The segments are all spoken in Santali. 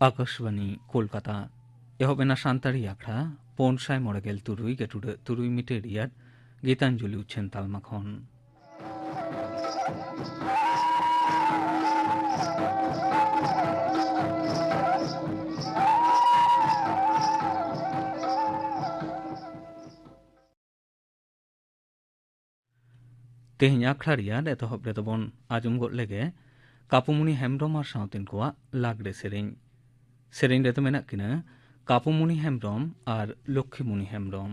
ᱟᱠᱟᱥᱵᱟᱱᱤ ᱠᱳᱞᱠᱟᱛᱟ ᱮᱦᱚᱵ ᱮᱱᱟ ᱥᱟᱱᱛᱟᱲᱤ ᱟᱠᱷᱲᱟ ᱯᱩᱱ ᱥᱟᱭ ᱢᱚᱬᱮ ᱜᱮᱞ ᱛᱩᱨᱩᱭ ᱜᱮᱴᱩᱰᱟᱹᱜ ᱛᱩᱨᱩᱭ ᱢᱤᱴᱟᱨ ᱨᱮᱭᱟᱜ ᱜᱤᱛᱟᱧᱡᱚᱞᱤ ᱩᱪᱷᱟᱹᱱ ᱛᱟᱞᱢᱟ ᱠᱷᱚᱱ ᱛᱮᱦᱮᱧ ᱟᱠᱷᱲᱟ ᱨᱮᱭᱟᱜ ᱮᱛᱚᱦᱚᱵ ᱨᱮᱫᱚ ᱵᱚᱱ ᱟᱸᱡᱚᱢ ᱜᱚᱫ ᱞᱮᱜᱮ ᱠᱟᱯᱩᱢᱩᱱᱤ ᱦᱮᱢᱵᱨᱚᱢ ᱟᱨ ᱥᱟᱶᱛᱮᱱ ᱠᱚᱣᱟᱜ ᱞᱟᱜᱽᱲᱮ ᱥᱮᱨᱮᱧ ᱥᱮᱨᱮᱧ ᱨᱮᱫᱚ ᱢᱮᱱᱟᱜ ᱠᱤᱱᱟ ᱠᱟᱯᱩᱢᱩᱱᱤ ᱦᱮᱢᱵᱨᱚᱢ ᱟᱨ ᱞᱚᱠᱠᱷᱤᱢᱩᱱᱤ ᱦᱮᱢᱵᱨᱚᱢ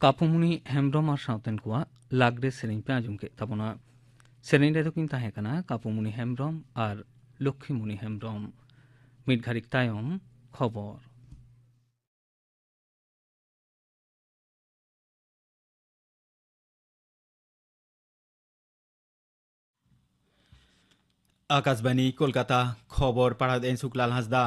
ᱠᱟᱯᱩᱢᱩᱱᱤ ᱦᱮᱢᱵᱨᱚᱢ ᱟᱨ ᱥᱟᱶᱛᱮᱱ ᱠᱚᱣᱟᱜ ᱞᱟᱜᱽᱲᱮ ᱥᱮᱨᱮᱧ ᱯᱮ ᱟᱸᱡᱚᱢ ᱠᱮᱫ ᱛᱟᱵᱚᱱᱟ ᱥᱮᱨᱮᱧ ᱨᱮᱫᱚ ᱠᱤᱱ ᱛᱟᱦᱮᱸ ᱠᱟᱱᱟ ᱠᱟᱯᱩᱢᱩᱱᱤ ᱦᱮᱢᱵᱨᱚᱢ ᱟᱨ ᱞᱚᱠᱠᱷᱤᱢᱩᱱᱤ ᱦᱮᱢᱵᱨᱚᱢ ᱢᱤᱫ ᱜᱷᱟᱹᱲᱤᱡ ᱛᱟᱭᱚᱢ ᱠᱷᱚᱵᱚᱨ ᱟᱠᱟᱥᱵᱟᱱᱤ ᱠᱳᱞᱠᱟᱛᱟ ᱠᱷᱚᱵᱚᱨ ᱯᱟᱲᱦᱟᱣ ᱮᱱ ᱥᱩᱠᱞᱟᱞ ᱦᱟᱸᱥᱫᱟ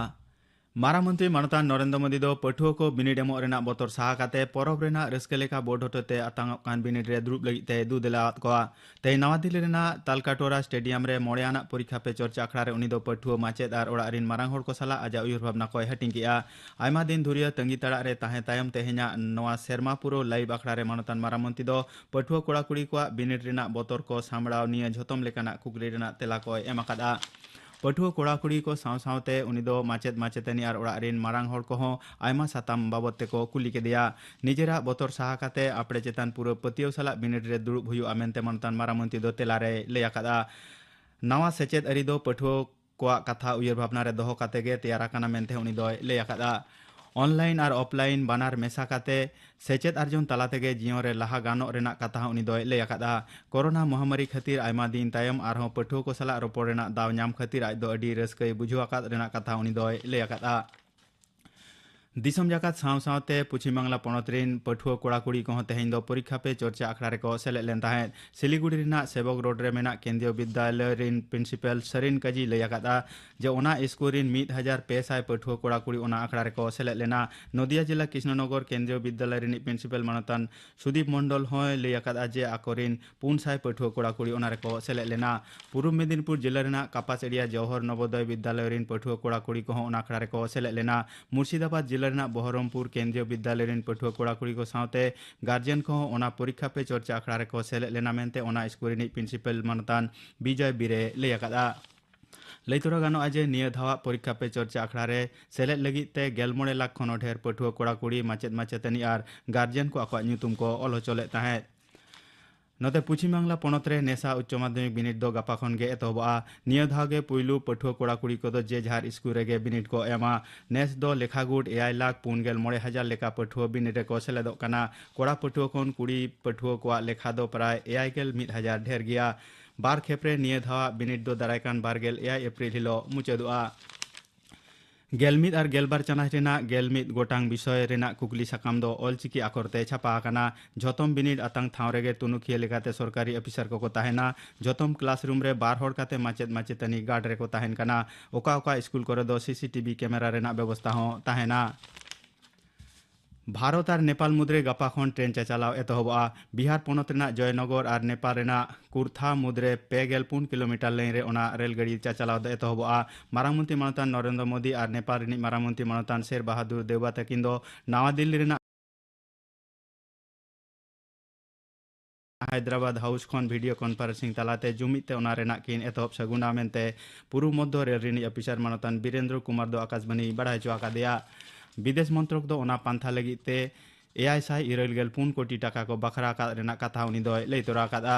ᱢᱟᱨᱟᱝ ᱢᱚᱱᱛᱨᱤ ᱢᱟᱱᱚᱛᱟᱱ ᱱᱚᱨᱮᱱᱫᱨᱚ ᱢᱳᱫᱤ ᱫᱚ ᱯᱟᱹᱴᱷᱩᱣᱟᱹ ᱠᱚ ᱵᱤᱱᱤᱰ ᱮᱢᱚᱜ ᱨᱮᱱᱟᱜ ᱵᱚᱛᱚᱨ ᱥᱟᱦᱟ ᱠᱟᱛᱮ ᱯᱚᱨᱚᱵᱽ ᱨᱮᱱᱟᱜ ᱨᱟᱹᱥᱠᱟᱹ ᱞᱮᱠᱟ ᱵᱳᱨᱰ ᱦᱚᱛᱮᱛᱮ ᱟᱛᱟᱝᱚᱜ ᱠᱟᱱ ᱵᱤᱱᱤᱰ ᱨᱮ ᱫᱩᱲᱩᱵ ᱞᱟᱹᱜᱤᱫ ᱛᱮ ᱫᱩ ᱫᱮᱞᱟᱣᱟᱫ ᱠᱚᱣᱟ ᱛᱮᱦᱮᱧ ᱱᱟᱣᱟ ᱫᱤᱞᱞᱤ ᱨᱮᱱᱟᱜ ᱛᱟᱞᱠᱟᱴᱳᱨᱟ ᱥᱴᱮᱰᱤᱭᱟᱢ ᱨᱮ ᱢᱚᱬᱮ ᱟᱱᱟᱜ ᱯᱚᱨᱤᱠᱷᱟ ᱯᱮ ᱪᱚᱨᱪᱟ ᱟᱠᱷᱲᱟ ᱨᱮ ᱩᱱᱤ ᱫᱚ ᱯᱟᱹᱴᱷᱩᱣᱟᱹ ᱢᱟᱪᱮᱫ ᱟᱨ ᱚᱲᱟᱜ ᱨᱤᱱ ᱢᱟᱨᱟᱝ ᱦᱚᱲ ᱠᱚ ᱥᱟᱞᱟᱜ ᱟᱡᱟᱜ ᱩᱭᱦᱟᱹᱨ ᱵᱷᱟᱵᱽᱱᱟ ᱠᱚᱭ ᱦᱟᱹᱴᱤᱧ ᱠᱮᱫᱼᱟ ᱟᱭᱢᱟ ᱫᱤᱱ ᱫᱷᱩᱨᱭᱟᱹ ᱛᱟᱺᱜᱤ ᱛᱟᱲᱟᱜ ᱨᱮ ᱛᱟᱦᱮᱸ ᱛᱟᱭᱚᱢ ᱛᱮᱦᱮᱧᱟᱜ ᱱᱚᱣᱟ ᱥᱮᱨᱢᱟ ᱯᱩᱨᱟᱹᱣ ᱞᱟᱭᱤᱵᱷ ᱟᱠᱷᱲᱟ ᱨᱮ ᱢᱟᱱᱚᱛᱟᱱ ᱢᱟᱨᱟᱝ ᱢᱚᱱᱛᱨᱤ ᱫᱚ ᱯᱟᱹᱴᱷᱩᱣᱟᱹ ᱠᱚᱲᱟ ᱠᱩᱲᱤ ᱠᱚᱣᱟᱜ ᱵᱤᱱᱤᱰ ᱨᱮᱱᱟᱜ ᱵᱚᱛᱚᱨ ᱠᱚ ᱥᱟᱢᱵᱲᱟᱣ ᱱᱤᱭᱟᱹ ᱡᱷᱚᱛᱚᱢ ᱞᱮᱠᱟᱱᱟᱜ ᱠᱩᱠᱞᱤ ᱨᱮᱱᱟᱜ ᱛᱮᱞᱟ ᱠᱚᱭ ᱮᱢ ᱟᱠᱟᱫᱼᱟ ᱯᱟᱹᱴᱷᱩᱣᱟᱹ ᱠᱚᱲᱟ ᱠᱩᱲᱤ ᱠᱚ ᱥᱟᱶ ᱥᱟᱶᱛᱮ ᱩᱱᱤ ᱫᱚ ᱢᱟᱪᱮᱫ ᱢᱟᱪᱮᱛᱟᱹᱱᱤ ᱟᱨ ᱚᱲᱟᱜ ᱨᱤᱱ ᱢᱟᱨᱟᱝ ᱦᱚᱲ ᱠᱚᱦᱚᱸ ᱟᱭᱢᱟ ᱥᱟᱛᱟᱢ ᱵᱟᱵᱚᱛ ᱛᱮᱠᱚ ᱠᱩᱞᱤ ᱠᱮᱫᱮᱭᱟ ᱱᱤᱡᱮᱨᱟᱜ ᱵᱚᱛᱚᱨ ᱥᱟᱦᱟ ᱠᱟᱛᱮ ᱟᱯᱲᱮ ᱪᱮᱛᱟᱱ ᱯᱩᱨᱟᱹ ᱯᱟᱹᱛᱭᱟᱹᱣ ᱥᱟᱞᱟᱜ ᱵᱤᱱᱤᱰ ᱨᱮ ᱫᱩᱲᱩᱵ ᱦᱩᱭᱩᱜᱼᱟ ᱢᱮᱱᱛᱮ ᱢᱟᱱᱚᱛᱟᱱ ᱢᱟᱨᱟᱝ ᱢᱚᱱᱛᱨᱤ ᱫᱚ ᱛᱮᱞᱟ ᱨᱮᱭ ᱞᱟᱹᱭ ᱟᱠᱟᱫᱼᱟ ᱱᱟᱣᱟ ᱥᱮᱪᱮᱫ ᱟᱹᱨᱤ ᱫᱚ ᱯᱟᱹᱴᱷᱩᱣᱟᱹ ᱠᱚᱣᱟᱜ ᱠᱟᱛᱷᱟ ᱩᱭᱦᱟᱹᱨ ᱵᱷᱟᱵᱽᱱᱟ ᱨᱮ ᱫᱚᱦᱚ ᱠᱟᱛᱮ ᱜᱮ ᱛᱮᱭᱟᱨ ᱟᱠᱟᱱᱟ ᱢᱮᱱᱛᱮ ᱩᱱᱤ ᱫᱚᱭ ᱞᱟᱹᱭ ᱟᱠᱟᱫᱼᱟ ᱚᱱᱞᱟᱭᱤᱱ ᱟᱨ ᱚᱯᱷᱞᱟᱭᱤᱱ ᱵᱟᱱᱟᱨ ᱢᱮᱥᱟ ᱠᱟᱛᱮ ᱥᱮᱪᱮᱫ ᱟᱨᱡᱚᱱ ᱛᱟᱞᱟ ᱛᱮᱜᱮ ᱡᱤᱭᱚᱱ ᱨᱮ ᱞᱟᱦᱟ ᱜᱟᱱᱚᱜ ᱨᱮᱱᱟᱜ ᱠᱟᱛᱷᱟ ᱦᱚᱸ ᱩᱱᱤ ᱫᱚᱭ ᱞᱟᱹᱭ ᱟᱠᱟᱫᱼᱟ ᱠᱚᱨᱳᱱᱟ ᱢᱚᱦᱟᱢᱟᱨᱤ ᱠᱷᱟᱹᱛᱤᱨ ᱟᱭᱢᱟ ᱫᱤᱱ ᱛᱟᱭᱚᱢ ᱟᱨᱦᱚᱸ ᱯᱟᱹᱴᱷᱩᱣᱟᱹ ᱠᱚ ᱥᱟᱞᱟᱜ ᱨᱚᱯᱚᱲ ᱨᱮᱱᱟᱜ ᱫᱟᱣ ᱧᱟᱢ ᱠᱷᱟᱹᱛᱤᱨ ᱟᱡ ᱫᱚ ᱟᱹᱰᱤ ᱨᱟᱹᱥᱠᱟᱹᱭ ᱵᱩᱡᱷᱟᱹᱣ ᱟᱠᱟᱫ ᱨᱮᱱᱟᱜ ᱠᱟᱛᱷᱟ ᱩᱱᱤ ᱫᱚᱭ ᱞᱟᱹᱭ ᱟᱠᱟᱫᱼᱟ ᱫᱤᱥᱚᱢ ᱡᱟᱠᱟᱛ ᱥᱟᱶ ᱥᱟᱶᱛᱮ ᱯᱚᱪᱷᱤᱢ ᱵᱟᱝᱞᱟ ᱯᱚᱱᱚᱛ ᱨᱮᱱ ᱯᱟᱹᱴᱷᱩᱣᱟᱹ ᱠᱚᱲᱟ ᱠᱩᱲᱤ ᱠᱚᱦᱚᱸ ᱛᱮᱦᱮᱧ ᱫᱚ ᱯᱚᱨᱤᱠᱷᱟ ᱯᱮ ᱪᱚᱨᱪᱟ ᱟᱠᱷᱲᱟ ᱨᱮᱠᱚ ᱥᱮᱞᱮᱫ ᱞᱮᱱ ᱛᱟᱦᱮᱸᱫ ᱥᱤᱞᱤᱜᱩᱲᱤ ᱨᱮᱱᱟᱜ ᱥᱮᱵᱚᱠ ᱨᱳᱰ ᱨᱮ ᱢᱮᱱᱟᱜ ᱠᱮᱱᱫᱨᱤᱭᱚ ᱵᱤᱫᱽᱫᱟᱞᱚᱭ ᱨᱮᱱ ᱯᱨᱤᱱᱥᱤᱯᱟᱞ ᱥᱟᱨᱤᱱ ᱠᱟᱡᱤ ᱞᱟᱹᱭ ᱟᱠᱟᱫᱟ ᱡᱮ ᱚᱱᱟ ᱤᱥᱠᱩᱞ ᱨᱮᱱ ᱢᱤᱫ ᱦᱟᱡᱟᱨ ᱯᱮ ᱥᱟᱭ ᱯᱟᱹᱴᱷᱩᱣᱟᱹ ᱠᱚᱲᱟ ᱠᱩᱲᱤ ᱚᱱᱟ ᱟᱠᱷᱲᱟ ᱨᱮᱠᱚ ᱥᱮᱞᱮᱫ ᱞᱮᱱᱟ ᱱᱚᱫᱤᱭᱟ ᱡᱮᱞᱟ ᱠᱨᱤᱥᱱᱚᱱᱚᱜᱚᱨ ᱠᱮᱱᱫᱨᱤᱭᱚ ᱵᱤᱫᱽᱫᱟᱞᱚᱭ ᱨᱤᱱᱤᱡ ᱯᱨᱤᱱᱥᱤᱯᱟᱞ ᱢᱟᱱᱚᱛᱟᱱ ᱥᱩᱫᱤᱯ ᱢᱚᱱᱰᱚᱞ ᱦᱚᱸᱭ ᱞᱟᱹᱭ ᱟᱠᱟᱫᱟ ᱡᱮ ᱟᱠᱚᱨᱮᱱ ᱯᱩᱱ ᱥᱟᱭ ᱯᱟᱹᱴᱷᱩᱣᱟᱹ ᱠᱚᱲᱟ ᱠᱩᱲᱤ ᱚᱱᱟ ᱨᱮᱠᱚ ᱥᱮᱞᱮᱫ ᱞᱮᱱᱟ ᱯᱩᱨᱩᱵ ᱢᱮᱫᱤᱱᱤᱯᱩᱨ ᱡᱮᱞᱟ ᱨᱮᱱᱟᱜ ᱠᱟᱯᱟᱥᱮᱲᱤᱭᱟ ᱡᱚᱦᱚᱨ ᱱᱚᱵᱚᱫᱚᱭ ᱵᱤᱫᱽᱫᱟᱞᱚᱭ ᱨᱤᱱ ᱯᱟᱹᱴᱷᱩᱣᱟᱹ ᱠᱚᱲᱟ ᱠᱩᱲᱤ ᱠᱚᱦᱚᱸ ᱚᱱᱟ ᱟᱠᱷᱲᱟ ᱨᱮᱠᱚ ᱥᱮᱞᱮᱫ ᱞᱮᱱᱟ ᱢᱩᱨᱥᱤᱫᱟᱵᱟᱫᱽ ᱡᱮᱞᱟ ᱨᱮᱱᱟᱜ ᱵᱚᱦᱚᱨᱚᱢᱯᱩᱨ ᱠᱮᱱᱫᱨᱤᱭᱚ ᱵᱤᱫᱽᱫᱟᱞᱚᱭ ᱨᱤᱱ ᱯᱟᱹᱴᱷᱩᱣᱟᱹ ᱠᱚᱲᱟ ᱠᱩᱲᱤ ᱠᱚ ᱥᱟᱶᱛᱮ ᱜᱟᱨᱡᱮᱱ ᱠᱚᱦᱚᱸ ᱚᱱᱟ ᱯᱚᱨᱤᱠᱷᱟ ᱯᱮ ᱪᱚᱨᱪᱟ ᱟᱠᱷᱲᱟ ᱨᱮᱠᱚ ᱥᱮᱞᱮᱫ ᱞᱮᱱᱟ ᱢᱮᱱᱛᱮ ᱚᱱᱟ ᱥᱠᱩᱞ ᱨᱤᱱᱤᱡ ᱯᱨᱤᱱᱥᱤᱯᱟᱞ ᱢᱟᱱᱚᱛᱟᱱ ᱵᱤᱡᱚᱭ ᱵᱤᱨᱮ ᱞᱟᱹᱭ ᱟᱠᱟᱫᱼᱟ ᱞᱟᱹᱭ ᱛᱚᱨᱟ ᱜᱟᱱᱚᱜᱼᱟ ᱡᱮ ᱱᱤᱭᱟᱹ ᱫᱷᱟᱣᱟᱜ ᱯᱚᱨᱤᱠᱷᱟ ᱯᱮ ᱪᱚᱨᱪᱟ ᱟᱠᱷᱲᱟ ᱨᱮ ᱥᱮᱞᱮᱫ ᱞᱟᱹᱜᱤᱫ ᱛᱮ ᱜᱮᱞ ᱢᱚᱬᱮ ᱞᱟᱠᱷ ᱠᱷᱚᱱ ᱦᱚᱸ ᱰᱷᱮᱨ ᱯᱟᱹᱴᱷᱩᱣᱟᱹ ᱠᱚᱲᱟ ᱠᱩᱲᱤ ᱢᱟᱪᱮᱫ ᱢᱟᱪᱮᱛᱟᱹᱱᱤ ᱟᱨ ᱜᱟᱨᱡᱮᱱ ᱠᱚ ᱟᱠᱚᱣᱟᱜ ᱧᱩᱛᱩᱢ ᱠᱚ ᱚᱞ ᱦᱚᱪᱚ ᱞᱮᱫ ᱛᱟᱦᱮᱸᱫ ᱱᱚᱛᱮ ᱯᱚᱪᱷᱤᱢ ᱵᱟᱝᱞᱟ ᱯᱚᱱᱚᱛ ᱨᱮ ᱱᱮᱥᱟ ᱩᱪᱪᱚ ᱢᱟᱫᱷᱭᱚᱢᱤᱠ ᱵᱤᱱᱤᱰ ᱫᱚ ᱜᱟᱯᱟ ᱠᱷᱚᱱ ᱜᱮ ᱮᱛᱚᱦᱚᱵᱚᱜᱼᱟ ᱱᱤᱭᱟᱹ ᱫᱷᱟᱣ ᱜᱮ ᱯᱩᱭᱞᱩ ᱯᱟᱹᱴᱷᱩᱣᱟᱹ ᱠᱚᱲᱟ ᱠᱩᱲᱤ ᱠᱚᱫᱚ ᱡᱮ ᱡᱟᱦᱟᱨ ᱤᱥᱠᱩᱞ ᱨᱮᱜᱮ ᱵᱤᱱᱤᱰ ᱠᱚ ᱮᱢᱟ ᱱᱮᱥ ᱫᱚ ᱞᱮᱠᱷᱟ ᱜᱩᱴ ᱮᱭᱟᱭ ᱞᱟᱠᱷ ᱯᱩᱱ ᱜᱮᱞ ᱢᱚᱬᱮ ᱦᱟᱡᱟᱨ ᱞᱮᱠᱟ ᱯᱟᱹᱴᱷᱩᱣᱟᱹ ᱵᱤᱱᱤᱰ ᱨᱮᱠᱚ ᱥᱮᱞᱮᱫᱚᱜ ᱠᱟᱱᱟ ᱠᱚᱲᱟ ᱯᱟᱹᱴᱷᱩᱣᱟᱹ ᱠᱷᱚᱱ ᱠᱩᱲᱤ ᱯᱟᱹᱴᱷᱩᱣᱟᱹ ᱠᱚᱣᱟᱜ ᱞᱮᱠᱷᱟ ᱫᱚ ᱯᱨᱟᱭ ᱮᱭᱟᱭ ᱜᱮᱞ ᱢᱤᱫ ᱦᱟᱡᱟᱨ ᱰᱷᱮᱨ ᱜᱮᱭᱟ ᱵᱟᱨ ᱠᱷᱮᱯ ᱨᱮ ᱱᱤᱭᱟᱹ ᱫᱷᱟᱣᱟᱜ ᱵᱤᱱᱤᱰ ᱫᱚ ᱫᱟᱨᱟᱭ ᱠᱟᱱ ᱵᱟᱨ ᱜᱮᱞ ᱮᱭᱟᱭ ᱮᱯᱨᱤᱞ ᱦᱤᱞᱚᱜ ᱢᱩᱪᱟᱹᱫᱚᱜᱼᱟ ᱜᱮᱞ ᱢᱤᱫ ᱟᱨ ᱜᱮᱞ ᱵᱟᱨ ᱪᱟᱱᱟᱪ ᱨᱮᱱᱟᱜ ᱜᱮᱞ ᱢᱤᱫ ᱜᱚᱴᱟᱝ ᱵᱤᱥᱚᱭ ᱨᱮᱱᱟᱜ ᱠᱩᱠᱞᱤ ᱥᱟᱠᱟᱢ ᱫᱚ ᱚᱞᱪᱤᱠᱤ ᱟᱠᱷᱚᱨ ᱛᱮ ᱪᱷᱟᱯᱟ ᱟᱠᱟᱱᱟ ᱡᱷᱚᱛᱚᱢ ᱵᱤᱱᱤᱰ ᱟᱛᱟᱝ ᱴᱷᱟᱶ ᱨᱮᱜᱮ ᱛᱩᱱᱩᱠᱷᱤᱭᱟᱹ ᱞᱮᱠᱟᱛᱮ ᱥᱚᱨᱠᱟᱨᱤ ᱚᱯᱷᱤᱥᱟᱨ ᱠᱚᱠᱚ ᱛᱟᱦᱮᱱᱟ ᱡᱷᱚᱛᱚᱢ ᱠᱞᱟᱥᱨᱩᱢ ᱨᱮ ᱵᱟᱨ ᱦᱚᱲ ᱠᱟᱛᱮ ᱢᱟᱪᱮᱫ ᱢᱟᱪᱮᱛᱟᱹᱱᱤ ᱜᱟᱨᱰ ᱨᱮᱠᱚ ᱛᱟᱦᱮᱱ ᱠᱟᱱᱟ ᱚᱠᱟ ᱚᱠᱟ ᱥᱠᱩᱞ ᱠᱚᱨᱮ ᱫᱚ ᱥᱤᱥᱤᱴᱤᱵᱷᱤ ᱠᱮᱢᱮᱨᱟ ᱨᱮᱱᱟᱜ ᱵᱮᱵᱚᱥᱛᱟ ᱦᱚᱸ ᱛᱟᱦᱮᱱᱟ ᱵᱷᱟᱨᱚᱛ ᱟᱨ ᱱᱮᱯᱟᱞ ᱢᱩᱫᱽᱨᱮ ᱜᱟᱯᱟ ᱠᱷᱚᱱ ᱴᱨᱮᱱ ᱪᱟᱪᱟᱞᱟᱣ ᱮᱛᱚᱦᱚᱵᱚᱜᱼᱟ ᱵᱤᱦᱟᱨ ᱯᱚᱱᱚᱛ ᱨᱮᱱᱟᱜ ᱡᱚᱭᱱᱚᱜᱚᱨ ᱟᱨ ᱱᱮᱯᱟᱞ ᱨᱮᱱᱟᱜ ᱠᱩᱨᱛᱷᱟ ᱢᱩᱫᱽᱨᱮ ᱯᱮ ᱜᱮᱞ ᱯᱩᱱ ᱠᱤᱞᱳᱢᱤᱴᱟᱨ ᱞᱟᱹᱭᱤᱱ ᱨᱮ ᱚᱱᱟ ᱨᱮᱞ ᱜᱟᱹᱰᱤ ᱪᱟᱪᱟᱞᱟᱣ ᱫᱚ ᱮᱛᱚᱦᱚᱵᱚᱜᱼᱟ ᱢᱟᱨᱟᱝ ᱢᱚᱱᱛᱨᱤ ᱢᱟᱱᱚᱛᱟᱱ ᱱᱚᱨᱮᱱᱫᱨᱚ ᱢᱳᱫᱤ ᱟᱨ ᱱᱮᱯᱟᱞ ᱨᱤᱱᱤᱡ ᱢᱟᱨᱟᱝ ᱢᱚᱱᱛᱨᱤ ᱢᱟᱱᱚᱛᱟᱱ ᱥᱮᱨ ᱵᱟᱦᱟᱫᱩᱨ ᱫᱮᱣᱵᱟ ᱛᱟᱹᱠᱤᱱ ᱫᱚ ᱱᱟᱣᱟ ᱫᱤᱞᱞᱤ ᱨᱮᱱᱟᱜ ᱦᱟᱭᱫᱨᱟᱵᱟᱫᱽ ᱦᱟᱣᱩᱥ ᱠᱷᱚᱱ ᱵᱷᱤᱰᱤᱭᱳ ᱠᱚᱱᱯᱷᱟᱨᱮᱱᱥᱤᱝ ᱛᱟᱞᱟᱛᱮ ᱡᱩᱢᱤᱫ ᱛᱮ ᱚᱱᱟ ᱨᱮᱱᱟᱜ ᱠᱤᱱ ᱮᱛᱚᱦᱚᱵ ᱥᱟᱹᱜᱩᱱᱟ ᱢᱮᱱᱛᱮ ᱯᱩᱨᱩ ᱢᱚᱫᱽᱫᱷᱚ ᱨᱮᱞ ᱨᱤᱱᱤᱡ ᱚᱯᱷᱤᱥᱟᱨ ᱢᱟᱱᱚᱛᱟᱱ ᱵᱤᱨᱮᱱᱫᱨᱚ ᱠᱩᱢᱟᱨ ᱫᱚ ᱟᱠᱟᱥᱵᱟᱱᱤ ᱵᱟᱲᱟᱭ ᱦᱚᱪᱚ ᱟᱠᱟᱫᱮᱭᱟ ᱵᱤᱫᱮᱥ ᱢᱚᱱᱛᱨᱚᱠ ᱫᱚ ᱚᱱᱟ ᱯᱟᱱᱛᱷᱟ ᱞᱟᱹᱜᱤᱫ ᱛᱮ ᱮᱭᱟᱭ ᱥᱟᱭ ᱤᱨᱟᱹᱞ ᱜᱮᱞ ᱯᱩᱱ ᱠᱳᱴᱤ ᱴᱟᱠᱟ ᱠᱚ ᱵᱟᱠᱷᱨᱟ ᱟᱠᱟᱫ ᱨᱮᱱᱟᱜ ᱠᱟᱛᱷᱟ ᱩᱱᱤ ᱫᱚᱭ ᱞᱟᱹᱭ ᱛᱚᱨᱟ ᱟᱠᱟᱫᱼᱟ